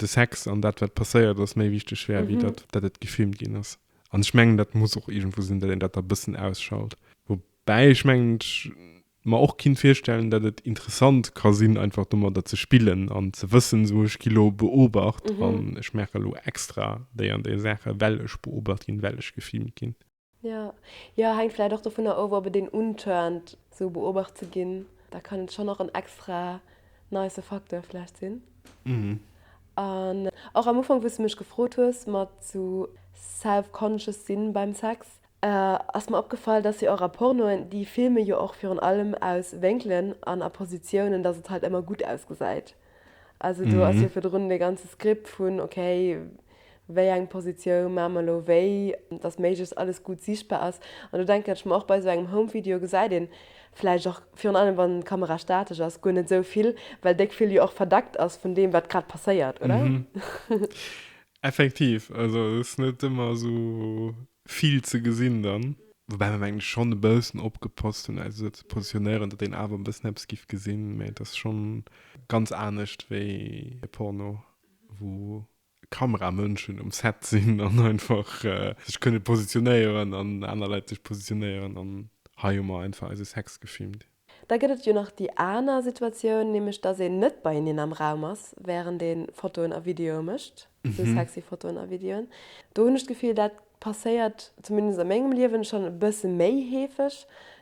de Sex an dat wat passéiert ass méi wichteg war wéi dat dat et gefilmt ginn ass. An ech mengen dat muss och iergendwou sinn dat een dat da bëssen ausschalt, woubäi ech mengen ech mer och kinnt virstellen dat et interessant ka sinn einfach domadder ze spillen an ze wëssen sou ech gi lo beobacht an ech maache lo extra déi an déi Saache well ech beobacht ginn, well ech gefilmt ginn. Jo, jo hänkt vläicht och dovunner of ob et een untörnt sou beobacht ze ginn, da kann et schonn och en extra nice Facteur vläicht sinn. An och am Ufank wou s de mech gefrot hues mat sou self-conscious sinn beim Sex, Ass mer opgefall, dass jo och a Pornoen déi filme jo och virun allem aus Wénkelen an a Positiounen, dass et halt ëmmer gutt ausgesäit. Also do ass jo virdrun dee ganze Script vun okay, wéi eng Positioun maache mer elo wéi, dass méiglechst alles gutt siichtbar ass. An do denken ech mer och, bei esou engem Home-Video gesäit ee vläicht och, virun allem wann d'Kamera statesch ass, guer net esou vill, well déck vill jo och verdeckt ass vun deem, wat grad passéiert, oder? Effektiv, also et ass net ëmmer esou vill ze gesinn dann. Woubäi mer mengen ech schonn e bëssen opgepasst hunn eis esou ze positionéieren, datt een awer e bëssen eppes giff gesinn, mä et ass schonn ganz anescht wéi e Porno, wou Kameramënschen um Set sinn an einfach sech kënne positionéieren an aner Leit sech positionéieren an hei hu mer einfach eise Sex gefilmt. Da gëtt et jo nach déi aner Situatioun, nämlech dass een net beieneen am Raum ass, während ee Fotoen a Videoe mécht, esou sexy Fotoen a Videoen. Do hunn ech d'Gefill, dat passéiert zumindest a mengem Liewen schonn e bësse méi heefeg,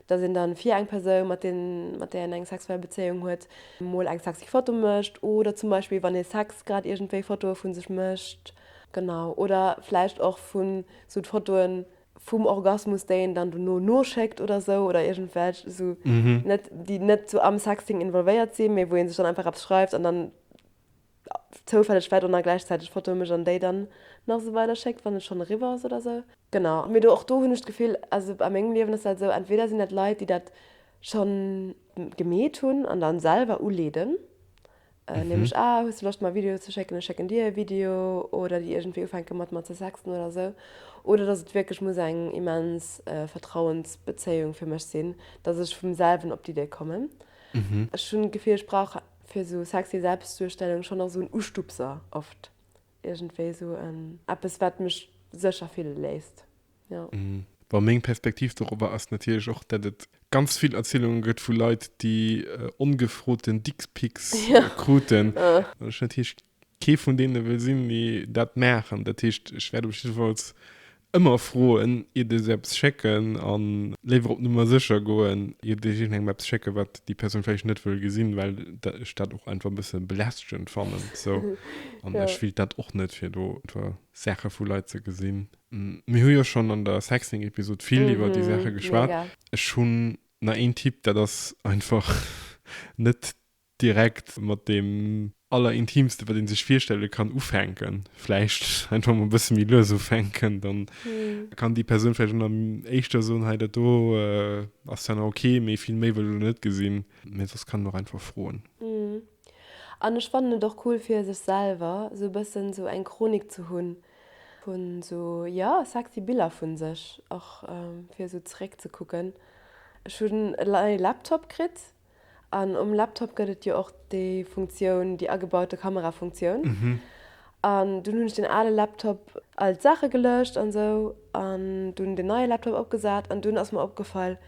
dass een dann fir eng Persoun, mat där een eng sexuell Bezéiung huet, mol eng sexy Foto mécht oder zum Beispill, wann ee Sex grad iergendwéi Fotoe vu sech mécht, genau, oder vläicht och vu sou d'Fotoen, vum Orgasmus déi een dann dono noschéckt oder sou oder iergendwelch sou net déi net sou am Sexting involvéiert sinn mee wou een sech dann einfach eppes schreift an dann zoufälleg vläit och nach gläichzäiteg Fotoe mécht an déi dann nach sou weider schéckt wann et schonn eriwwer ass oder sou. Genau mee do och do hunn ech d'Gefill also a mengem Liewen ass dat esou entweder sinn dat Leit déi dat schonn gemeet hunn an dann selwer uleeden nämlech ah hues de Loscht mer e Video ze schécken, ech schécken dir e Video, oder déi iergendwéi ufänke mat mer ze sexten oder esou, oder dass et wierklech muss eng immens Vertrauensbezéiung fir mech sinn, dass ech vum selwen op d'Idee kommen. Ech hunn d'Gefill ech brauch fir esou sexy Selbstduerstellung schonn nach esou en Ustupser oft, iergendwéi esou en eppes wat mech sécher fille léisst. Ja. Bon, meng Perspektiv dorobber ass natierlech och, dat et ganz vill Erzielunge gëtt vu Leit, déi ongefroten Dickpics kruten, an ech natierlech kee vun deene wëll sinn, déi dat maachen. Dat heescht, ech wäert op jidde Falls ëmmer froen, iert ech eppes schécken, a léiwer op Nummer sécher goen, iert ech iergendengem eppes schécken, wat déi Persoun vläicht net wëll gesinn, well ech dat och einfach e bësse belästegend fannen. Sou. An ech wéilt dat och net, fir do einfach Saache vu Leit ze gesinn, Mir hu jo schonn an der Sexting-Episod vill iwwer déi Saache geschwat. Ech hunn nach een Tipp, dat ass einfach net direkt mat deem allerintimste wat ee sech virstelle kann ufänken. Vläicht einfach mol e bësse méi lues ufänken, da kann déi Persoun vläicht ëmmer éischter soen, hei dat do ass zwar nach ok, mee vill méi wëll ech elo net gesinn. Mee soss kann een och einfach froen. An ech fannen et och cool fir sech selwer esou e bëssen esou eng Chronik ze hunn, Hun sou jo sexy Biller vun sech och fir sou zeréck ze kucken. Ech hun e neie Laptop kritt an um Laptop gëtt et jo och déi Funktioun, déi agebaute Kamera Funktioun an dun hun ech den ale Laptop all d'Saache gelëscht an sou an dun den neie Laptop opgesat an dun ass mer opgefall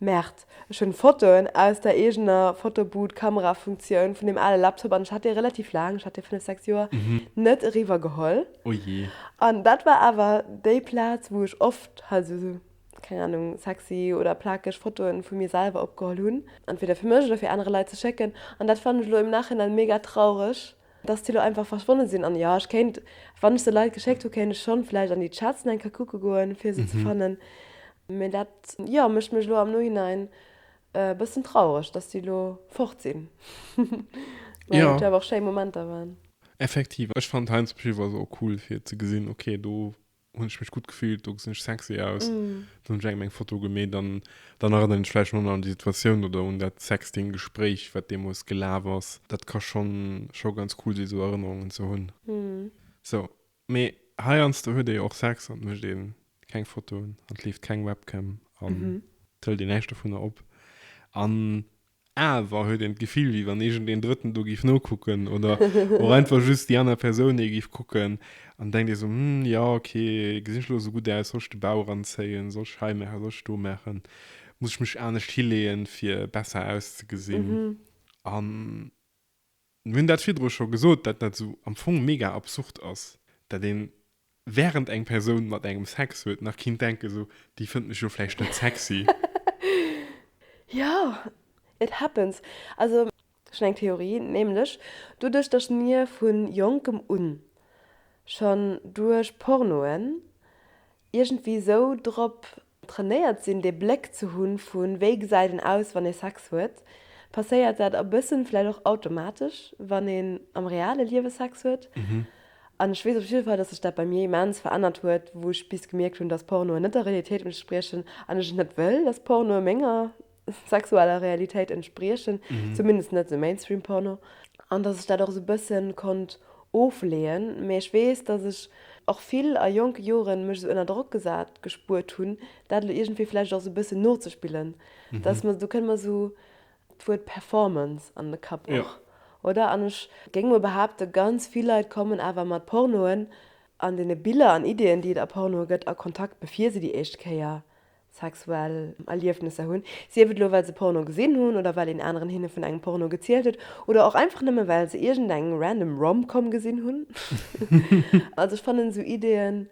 Merd, ech hun Fotoen aus der eegener Fotoboot Kamerafunktioun vun deem ale Laptop an ech hat dee relativ laang, ech hat dee 5, 6 Joer, net eriwwer geholl. Oh jee. An dat war awer déi Plaatz wou ech oft halt esou sou, keng Ahnung, sexy oder plakeg Fotoen vu mir selwer opgeholl hun, entweder fir mech oder fir aanere Leit ze schécken, an dat fannen ech elo im Nachhinein mega traureg. Dass déi lo einfach verschwonnen sin an jo ech kéint wann ech se Leit geschéckt hu kéint ech schon vläicht an déi Chats na eng Kéier kucke goen fir se ze fannen mee dat jo mécht mech lo am Nohinein e bëssen traureg dass déi lo fort sin well dat jo awer och schéi Momenter waren. Effektiv, ech fand Heinz Beschéfer ass och cool fir ze gesin ok do hun ech mech gutt gefillt, do gesinn ech sexy aus, dann hunn ech engem eng Foto gemeet an dann erënneren ech vläicht manner an déi Situatioun oder un dat Sexting-Gespréich, wat deemools gelaf ass. Dat ka scho scho ganz cool sinn, esou Erënnerungen ze hunn. Sou, mee heiansdo huet ee jo och Sex an et mécht ee keng Fotoen an et leeft keng Webcam an et hëlt een näischt dovunner op. An Awer huet een d'Gefill, wéi wann iergend een Drëtten do géif nokucken oder och einfach just déi aner Persoun ee géif kucken. An denkt ee sou, Hm, jo, okay, gesinn ech elo esou gutt aus? Soll ech de Bau eranzéien? Soll ech hei maachen? Soll ech do maachen? Muss ech mech anescht hileeën, fir besser auszegesinn? An Mir hunn dat virdru scho gesot, dat dat esou am Fong mega absurd ass, dat een, während eng Persoun mat engem Sex huet, nach kinnt denken, esou, déi fënnt mech jo vläicht net sexy. Jo, it happens. Also, ech hunn eng Theorie, nämlech, doduerch dass mir vu jonkem un schonn duerch Pornoen iergendwéi esou drop trainéiert sinn dee Bléck ze hunn vu wéi gesäit een aus wann ee Sex huet, passéiert dat a bëssen vläicht och automatesch wann een am reale Liewe Sex huet. An ech weess op jidde Fall, dass sech dat bei mir immens verännert huet, wou ech bis gemierkt hunn, dass Pornoen net der Realitéit entspriechen an ech et net wëll, dass Pornoe menger. sexueller Realitéit entspriechen, zumindest net esou Mainstream Porno, an dass ech dat och esou e bësse konnt ofleeën. Mee ech weess, dass ech och vill a jonke Joren mech esou ënner Drock gesat gespuert hunn, dat elo iergendwéi vläicht och esou e bësse nozespillen, dass mer, do kënnt mer esou d'Wuert Performance an de Kapp och, oder? An ech géing mol behaapten, ganz vill Leit kommen awer mat Pornoen an deene Biller an Ideeën, déi et a Pornoe gëtt, a Kontakt, bevir se déi éischt Kéier sexuell Erliefnesser hunn, sief et elo well se Porno gesinn hunn oder well een aneren hinne vun engem Porno gezielt huet oder och einfach nëmme well se iergendeng random Rom-Com gesinn hunn. Also ech fannen esou Ideeën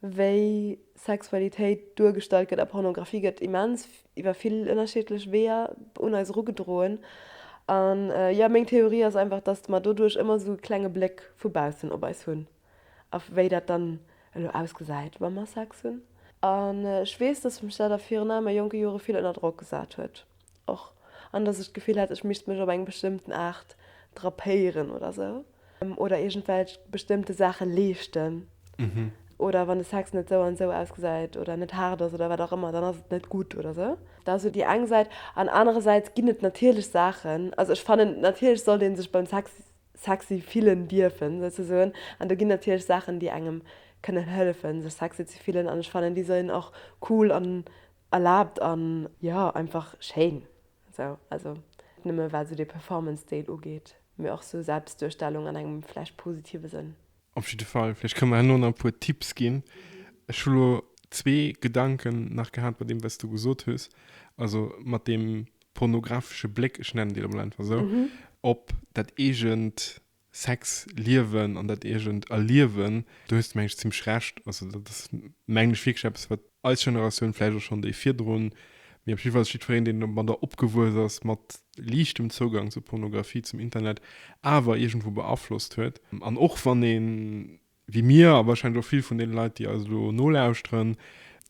wéi Sexualitéit duergestallt gëtt a Pornografie gëtt immens iwwer vill ënnerschiedlech Weeër un eis erugedroen an jo meng Theorie ass einfach dass mer doduerch ëmmer esou e klenge Bléck vu baussen op eis hunn. a wéi dat dann elo ausgesäit, wa mer Sex hunn. An ech weess, dass mech dat a virun allem a jonke Jore vill ënner Drock gesat huet och an dass ech d'Gefill hat, ech misst mech op eng bestëmmten Aart drapéieren oder sou oder iergendwelch bestëmmte Saache leeschten oder wann de Sex net sou an sou ausgesäit oder net haart ass oder wat och ëmmer, dann ass et net gutt oder sou. Dat ass jo déi eng Säit. An anerersäits ginn et natierlech Saachen, also ech fannen natierlech sollt ee sech beim Sex sexy fillen dierfen souzesoen an do ginn natierlech Saachen déi engem kënnen hëllefen sech sexy ze fillen an ech fannen déi sinn och cool an erlaabt an jo einfach schéin sou also net nëmme wat sou de Performance Deel ugeet mee och sou Selbstduerstellung an engem vläicht positive Sënn. Op jidde Fall, vläicht kënne mer herno nach e puer Tipps ginn. Ech hu lo zwee Gedanken nach gehat bei deem, wat s du gesot hues, also mat deem pornographesche Bléck, ech nennen deen emol einfach esou, op dat eegent Sexliewen an dat eegent Erliewen. Do hues de, mengen ech, zimmlech Recht. Also dat ass, mengen ech, wierklech eppes, wat eis Generatioun, vläicht och schonn déi virdrun, mee op jidde Fall jiddwereen, deen mat der opgewuess ass, mat liichtem Zougang zur Pornografie, zum Internet, awer iergendwou beaflosst huet. An och wann ee wéi mir, a warscheinlech och vill vun deene Leit, déi eis elo nolauschteren,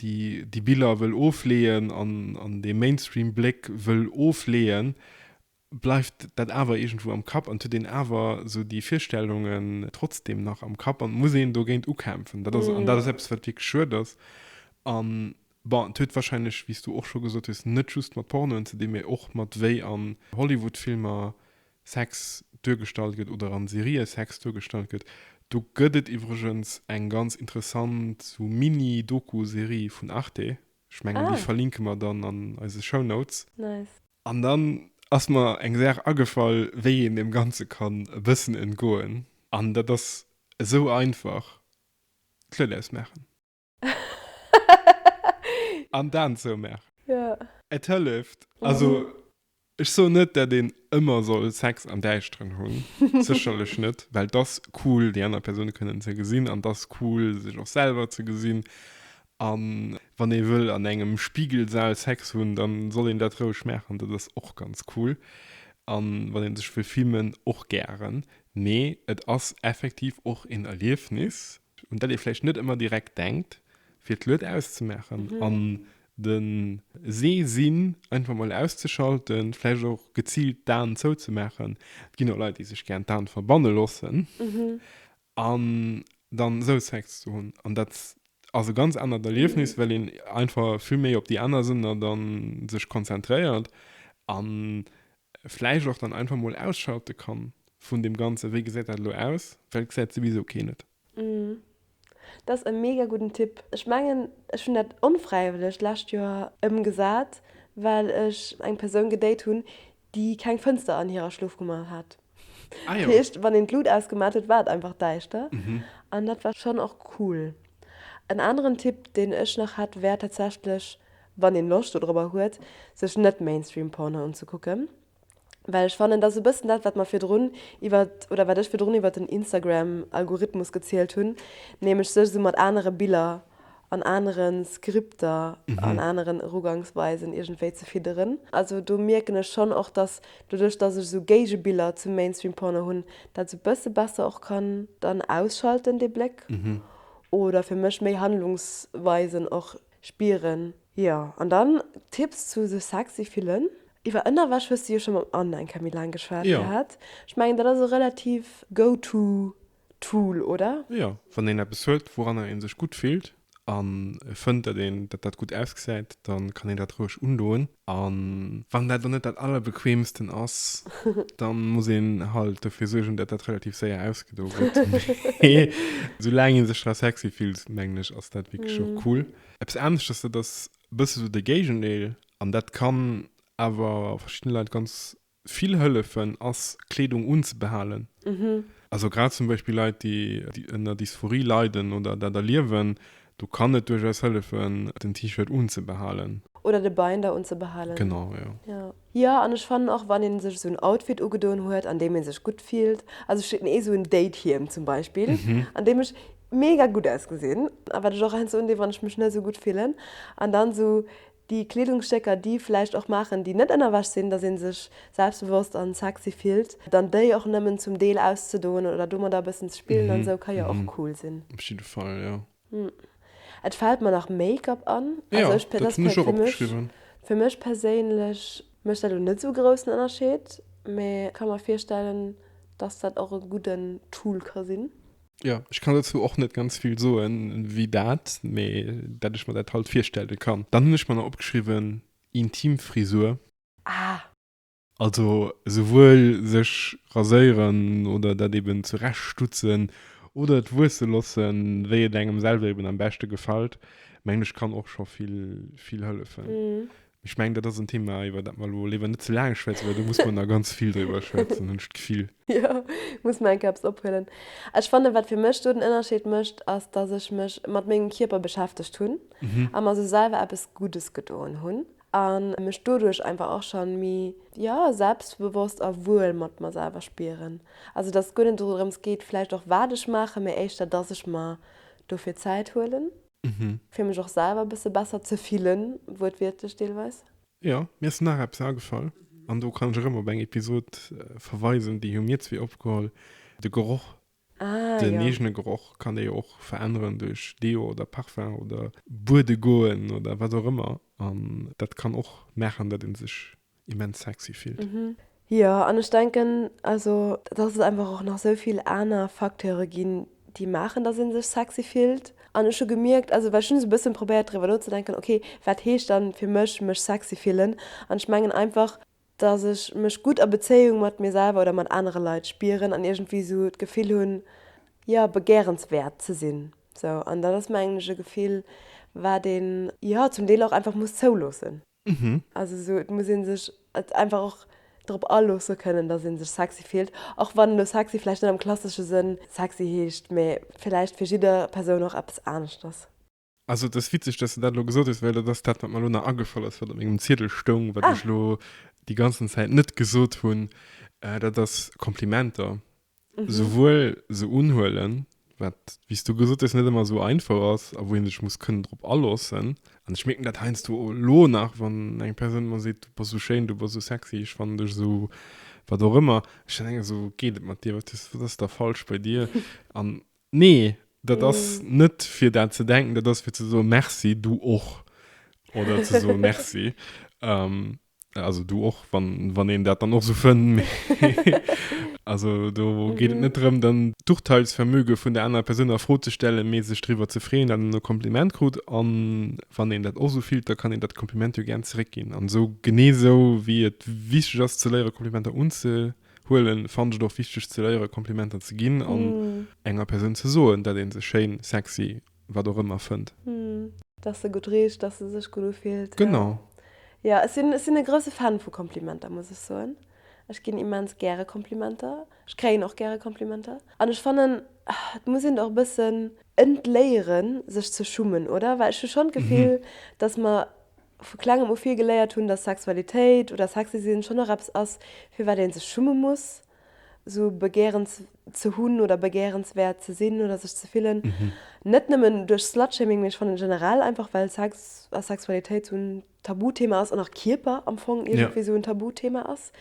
déi Biller wëll ofleeën an dee Mainstream-Bléck wëll ofleeën, bleift dat awer iergendwou am Kapp an et huet een awer esou déi Virstellungen trotzdem nach am Kapp an et muss een dogéint ukämpfen. Dat ass, an dat ass eppes, wat wierklech schued ass. An, bon, et huet warscheinlech, wéi s du och scho gesot hues, net just mat Pornoen ze dinn, mee och mat wéi an Hollywood-Filmer Sex duergestallt gëtt oder an Serië Sex duergestallt gëtt. Do gëtt et iwwregens eng ganz interessant esou Mini-Doku-Serie vun Arte, ech mengen, déi verlinke mer dann an eise Show Notes. Nice. An dann ass mer eng Saach agefall, wéi een deem Ganze kann e bëssen entgoen, an dat ass esou einfach, d'Luet ausmaachen an d'Aen zoumaachen. Et hëlleft. Also, ech soen net, dat een ëmmer soll Sex am Däischteren hunn, sécherlech net, well 't ass cool, déi aner Persoun kënnen ze gesinn, an 't ass cool, sech och selwer ze gesinn, A wann ee wëll an engem Spigelsal Sex hunn, da soll een dat roueg maachen, dat ass och ganz cool. A wann ee sech wëll filmen, och gären. Mee et ass effektiv och een Erliefnis, un dat ee vläicht net ëmmer direkt denkt, fir d'Lued auszemaachen an de Sehsinn einfach mol auszeschalten, vläicht och geziilt d'Aen zouzemaachen. Et ginn och Leit, déi sech gären d'Aen verbanne loossen. An dann esou Sex ze hunn. An dat ass e ganz anert Erliefnis, well een einfach vill méi op déi aner Sënner da sech konzentréiert a vläicht och dann einfach mol ausschalte kann vun deem Ganzen, wéi gesäit dat elo aus, well et gesäit souwisou keen et. Mmh. Dat ass e mega gudden Tipp. Ech mengen, ech hunn dat onfräiwëlleg d'lescht Joer ëmgesat, well ech eng Persoun gedate hunn, déi keng Fënster an hirer Schlofkummer hat. Ah jo. Dat heescht, wann een d'Lut ausgemaat huet, war et einfach däischter. An dat war schonn och cool. En aneren Tipp, deen ech nach hätt, wär tatsächlech, wann een Loscht dodrobber huet, sech net Mainstream-Porno unzekucken. Well ech fannen, dat ass e bëssen dat, wat mer virdrun iwwert, oder wat ech virdrun iwwert den Instagram-Algorithmus gezielt hunn, nämlech sech esou mat anere Biller an anere Skripter, an aneren Erugangsweisen iergendwéi ze fidderen. Also do mierken ech schonn och, datt doduerch, datt ech esou Géigebiller zum Mainstream Porno hunn, dat esou e bësse besser och kann dann ausschalten, dee Bléck, oder fir mech méi Handlungsweisen och spieren. Jo, an dann Tipps zu sech sexy fillen. Iwwer Ënnerwäsch hues de jo scho mam Anne eng Kéier méi laang geschwat gehat. Ech mengen, dat ass e relativ go-to D'Fool, oder? Jo, wann een eppes huet, wouranner ee sech gutt fillt a fënnt, datt een datt dat gutt ausgesäit, da kann een dat roueg undoen. A wann dat dann net dat Allerbequeemsten ass, da muss een halt dofir suergen, datt dat relativ séier ausgedo gëtt. Mee soulaang ee sech dra sexy fillt, mengen ech, ass dat wierklech och cool. Eppes aneschtes, dat ass e bësse sou de Géigendeel, an dat kann awer verschidde Leit ganz Vill hëllefen ass Kleedung unzebehalen. Also grad zum Beispill Leit déi ënner Dysphorie leiden oder dat erliewen, do kann et duerchaus hëllefen den T-Shirt unzebehalen. Oder de Binder unzebehalen. Genau, jo. Jo, an ech fannen och wann een sech esou en Outfit ugedoen huet an deem een sech gutt fillt, also ech hunn ee esou en Date-Hiem zum Beispill an deem ech mega gutt ausgesinn a wat ech och heiansdo undoe wann ech mech net esou gutt fillen an dann esou Déi Kleedungsstécker, déi vläicht och maachen, déi net ënnerwäsch sinn, dass ee sech selbstbewosst an sexy fillt. Dann déi och nëmmen zum Deel auszedoen oder domadder e bëssen ze spillen an esou ka jo och cool sinn. Op jidde Fall, jo. Et fält mer nach Make-up an. Jo, dat hunn ech och opgeschriwwen. Fir mech perséinlech mécht dat elo net esou e groussen Ënnerscheed, mä ka mer virstellen, dass dat och e gudden Tool ka sinn. Jo, ech kann dozou och net ganz vill soen, wéi dat, mee dat ech mer dat halt virstellen kann. Dann hunn ech mer nach opgeschriwwen, intim Frisur. Ah! Also souwuel sech raséieren oder dat eben zurecht stutzen oder et wuesse lossen, wéi et engem selwer eben am beschte gefällt, mengen ech kann och scho vill, vill hëllefen. Ech mengen, dat ass en Thema, iwwer dat mer elo léiwer net ze laang schwätzen, well do muss mer nach ganz vill driwwer schwätzen, hunn ech d'Gefill. Jo, muss mer eng Kéier eppes ophuelen. Ech fannen, wat fir mech do den Ënnerscheed mécht, ass, dass ech mech mat mengem Kierper beschäftegt hunn a mer esou selwer eppes Guddes gedoen hunn a mech doduerch einfach och scho méi, jo, selbstbewosst a wuel mat mer selwer spieren. Also dass et guer net dorëms geet, vläicht och wat ech maachen, mä éischter, dass ech mer dofir Zäit huelen. Fir mech och selwer bësse besser ze fillen, wuertwiertlech deelweis. Jo, mir ass nach eppes agefall, an do kann ech erëm op eng Episod verweisen, déi hu mir zwee opgeholl, de Geroch. Ah, jo. Den eegene Geroch kann ee jo och veränneren duerch Deo oder Parfum oder buede goen oder wat och ëmmer. An dat kann och maachen, datt ee sech immens sexy fillt. Jo, an ech denken also, dass et einfach och nach esou vill aner Facteure ginn, déi maachen, dass ee sech sexy fillt. An ech hu gemierkt, also well ech hunn esou e bëssen probéiert driwwer nozedenken, ok, wat heescht dann fir mech mech sexy fillen? An ech mengen einfach, dass ech mech gutt a Bezéiung mat mir selwer oder mat anere Leit spieren an iergendwéi esou d'Gefill hunn, jo, begärenswäert ze sinn. Sou, an dat ass mengen ech e Gefill, wat een, jo, zum Deel och einfach muss zouloossen. Mhm. Also esou, et muss ee sech et einfach och drop aloosse kënnen, datt ee sech sexy fillt. Och wann elo sexy vläicht net am klassesche Sënn sexy heescht, mä vläicht fir jidder Persoun och eppes anescht ass. Also et ass witzeg, datt s de dat elo gesot hues, well dat ass dat, wat mer elo nach agefall ass, wat op mengem Ziedel stoung, wat ech elo déi ganzen Zäit net gesot hunn. Dat ass Komplimenter. souwuel se unhuelen, wat, wéi s du gesot hues, net ëmmer esou einfach ass a wou ee sech muss kënnen drop aloossen. An ech mierken dat heiansdo elo nach, wann eng Persoun mer seet, du bass esou schéin, du bass esou sexy, ech fannen dech esou, wat och ëmmer, ech dann denken, esou, geet et mat dir, wat ass, wat ass da falsch bei dir? An nee, dat ass net fir dat ze denken, dat ass fir ze soen, Merci, du och, oder ze soen, Merci. Also du och wann wann een dat dann och so fënn also do geet et net drëm dann d'Urteilsvermöge vun der aner Persoun a Fro ze stellen, mee sech driwwer ze freeën dat en e Kompliment krut an wann een dat och sou fillt, da kann een dat Kompliment jo gären zeréck ginn an sou genee sou wéi et wichteg ass ze léiere Komplimenter unzehuelen, fannen ech et och wichteg ze léiere Komplimenter ze ginn an enger Persoun ze soen dat een se schéin, sexy wat och ëmmer fënnt. Dass se gutt richt, dass se sech gutt ufillt. Genau. Jo, ech sinn e grousse Fan vu Komplimenter, muss ech soen. Ech ginn immens gäre Komplimenter. Ech kréien och gäre Komplimenter. An ech fannen, et muss een der och e bëssen entléieren, sech ze schummen, oder? Well ech hu schonn d'Gefill, dass mer vu Klengem u vill geléiert hunn, dass Sexualitéit oder sexy sinn schonn och eppes ass, firwat ee sech schumme muss. sou begärens ze hunn oder begärenswäert ze sinn oder sech ze fillen, net nëmmen duerch Slutshaming, mee ech fannen generell einfach, well Sex a Sexualitéit sou en Tabuthema ass an och Kierper am Fong iergendwéi sou en Tabuthema ass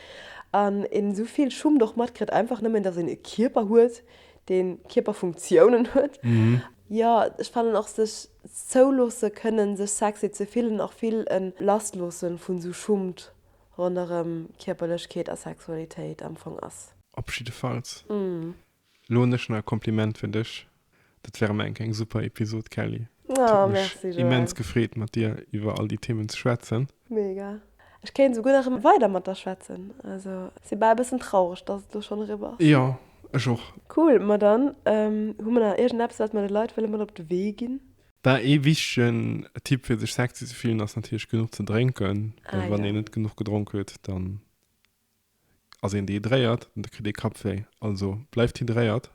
an een sou vill Schummt och matkritt, einfach nëmmen, dass een e Kierper huet, deen Kierperfunktiounen huet. Jo, ech fannen och sech zouloosse kënnen, sech sexy ze fillen, och vill en Lastloosse vu sou Schummt ronderëm Kierperlechkeet a Sexualitéit am Fong ass. Opschiddefalls, lo hun ech na e Kompliment fir dech, dat wär emmer enk eng super Episod Kelly. Et huet mech immens gefreet mat dir iwwer all déi Themen ze schwätzen. Mega. Ech kéint souguer nach emmer weider mat der schwätzen. Also si bal e bëssen traureg, dass et lo schonn eriwwer ass. Jo, ech och. Cool, ma dann hu mer nach iergendeppes wat mer de Leit wëlle mat op de Wee ginn? War ee wichtegen Tipp fir sech sexy ze fillen ass natierlech genuch ze drénken, well Ah, wann jo. een net genuch gedronk huet, dann ass een dehydréiert an da kritt ee Kappwéi. Also bleift hydréiert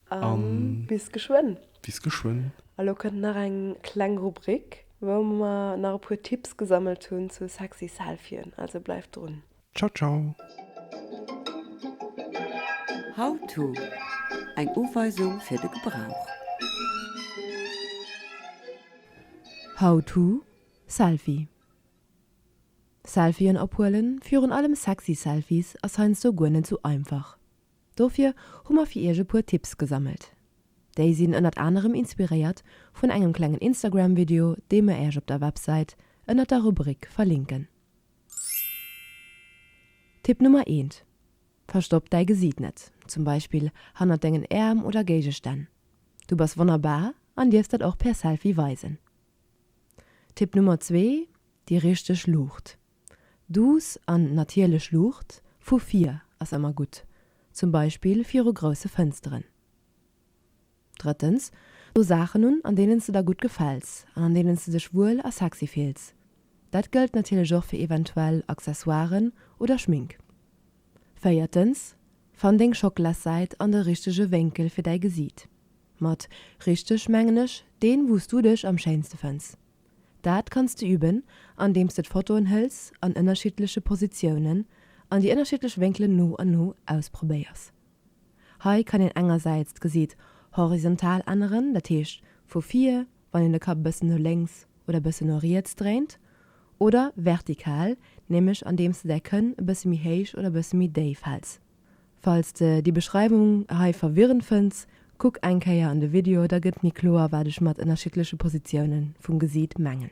An an bis geschwënn. bis geschwënn. A lo kënnt nach eng kleng Rubrik, wou mer nach e puer Tipps gesammelt hunn zu sexy Selfien. Also bleift drun. Ciao ciao! How to, Eng Uweisung fir de Gebrauch. How to, Selfie Selfien ophuelen, virun allem sexy Selfies, ass heiansdo guer net sou einfach. Dofir hu mer fir iech e puer Tipps gesammelt. Déi sinn ënnert anerem inspiréiert vun engem klengen Instagram-Video, dee mer iech op der Websäit ënnert der Rubrik verlinken. Tipp Nummer eent, Verstopp däi Gesiit net, zum Beispill hannert dengen Äerm oder Géigestänn. Du bass wonnerbar an dierfs dat och per Selfie weisen. Tipp Nummer zwee, Déi richteg Luucht, duuss an natierlech Luucht vu vir ass ëmmer gutt, zum Beispill viru grousse Fënsteren. Drëttens, Do Saachen un, an deenen s de der gutt gefäls an an deenen s de dech wuel a sexy fills. Dat gëllt natierlech och fir eventuell Accessoiren oder Schmink. Véiertens, Fann deng Schockelassäit an de richtege Wénkel fir däi Gesiit. Mat richteg mengen ech deen, wou s du dech am schéinste fënns. Dat kanns de üben, andeems de d'Fotoen hëls an ënnerschiddleche Positiounen an déi ënnerschiddlech Wénkelen no an no ausprobéiers. Hei kann een engersäits d'Gesiit horizontal änneren, dat heescht vu vir, wann een de Kapp e bëssen no lénks oder e bëssen no riets dréint, oder vertikal, nämlech andeems de däi Kënn e bësse méi héich oder e bësse méi déif häls. Falls de déi Beschreiwung hei verwirrend fënns, kuck eng Kéier an de Video, da gëtt méi kloer wat ech mat ënnerschiddleche Positioune vum Gesiit mengen.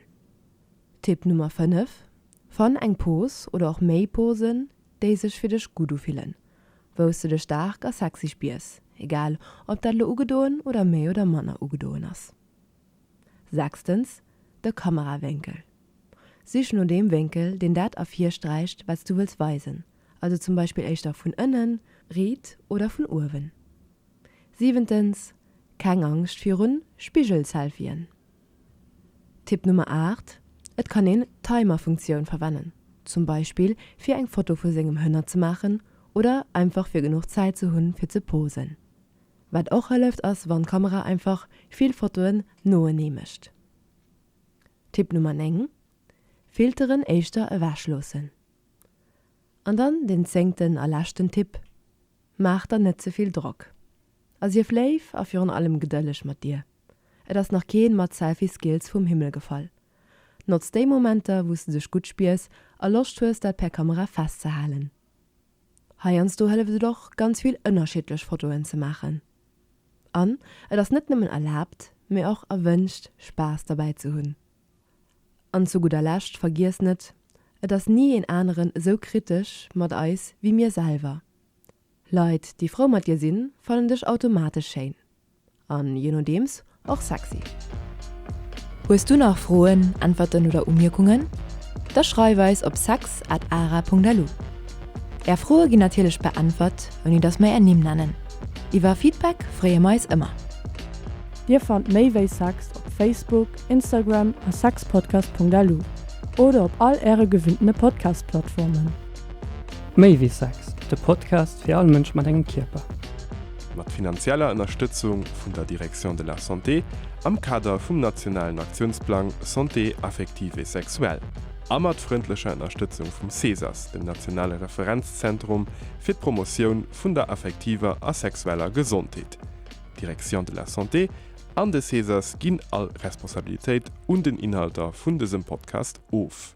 Tipp Nummer 5, Fann eng Pose oder och méi Posen, déi sech fir dech gutt ufillen. wou s de dech staark a sexy spiers, egal ob dat lo ugedoen oder méi oder manner ugedoen ass. Sechstens, de Kamerawénkel. Sich no deem Wénkel, deen dat ervirsträicht, wat s du wëlls weisen, also zum Beispill éischter vun ënnen, riit oder vun uewen. Siwentens, keng Angscht virun Spigelselfien. Tipp Nummer 8, Et kann een d'Timer-Funktioun verwennen, zum Beispill fir eng Foto vu sengem Hënner ze maachen oder einfach fir genuch Zäit ze hunn fir ze posen. Wat och hëlleft ass wann d'Kamera einfach vill Fotoen noenee mécht. Tipp Nummer 9, Filteren éischter ewech loossen. An dann den zéngten a leschten Tipp, Maach der net ze vill Drock a sief léif a virun allem gedëlleg mat dir. Et ass nach keen mat Selfie Skills vum Himmel gefall. Notz déi Momenter wous de dech gutt spiers a Loscht hues dat per Kamera festzehalen. Heiansdo hëlleft et och ganz vill ënnerschiddlech Fotoen ze maachen. An et ass net nëmmen erlaabt, mee och erwënscht Spaass derbäi ze hunn. An zu gudder Lescht, vergiesst net, et ass ni een aneren esou kritesch mat eis wéi mir selwer. Leit, déi frou mat dir sinn, fannen dech automatesch schéin an, je nodeems, och sexy. Hues du nach Froen, Äntwerten oder Umierkungen? Da schreif eis op sex at ara Punkt lu. Är Froe ginn natierlech beäntwert, ouni dass mer är Nimm nennen. Iwwer Feedback freeë mer eis ëmmer. Dir fannt méi wéi Sex op Facebook, Instagram a sexpodcast.lu oder op all Äre gewinnene Podcast-Plattformen. Méi wéi Sex, de Podcast fir all Mënsch mat engem Kierper. Mat finanzieller Ënnerstëtzung vun der Direction de la Santé am Kader vum nationalen Aktiounsplang Santé affective et sexuelle a mat frëndlecher Ënnerstëtzung vum CESAS, dem nationale Referenzzentrum fir d'Promotioun vun der affektiver a sexueller Gesondheet, Direction de la Santé, an de Césars ginn all Responsabilitéit un den Inhalter vun dësem Podcast of.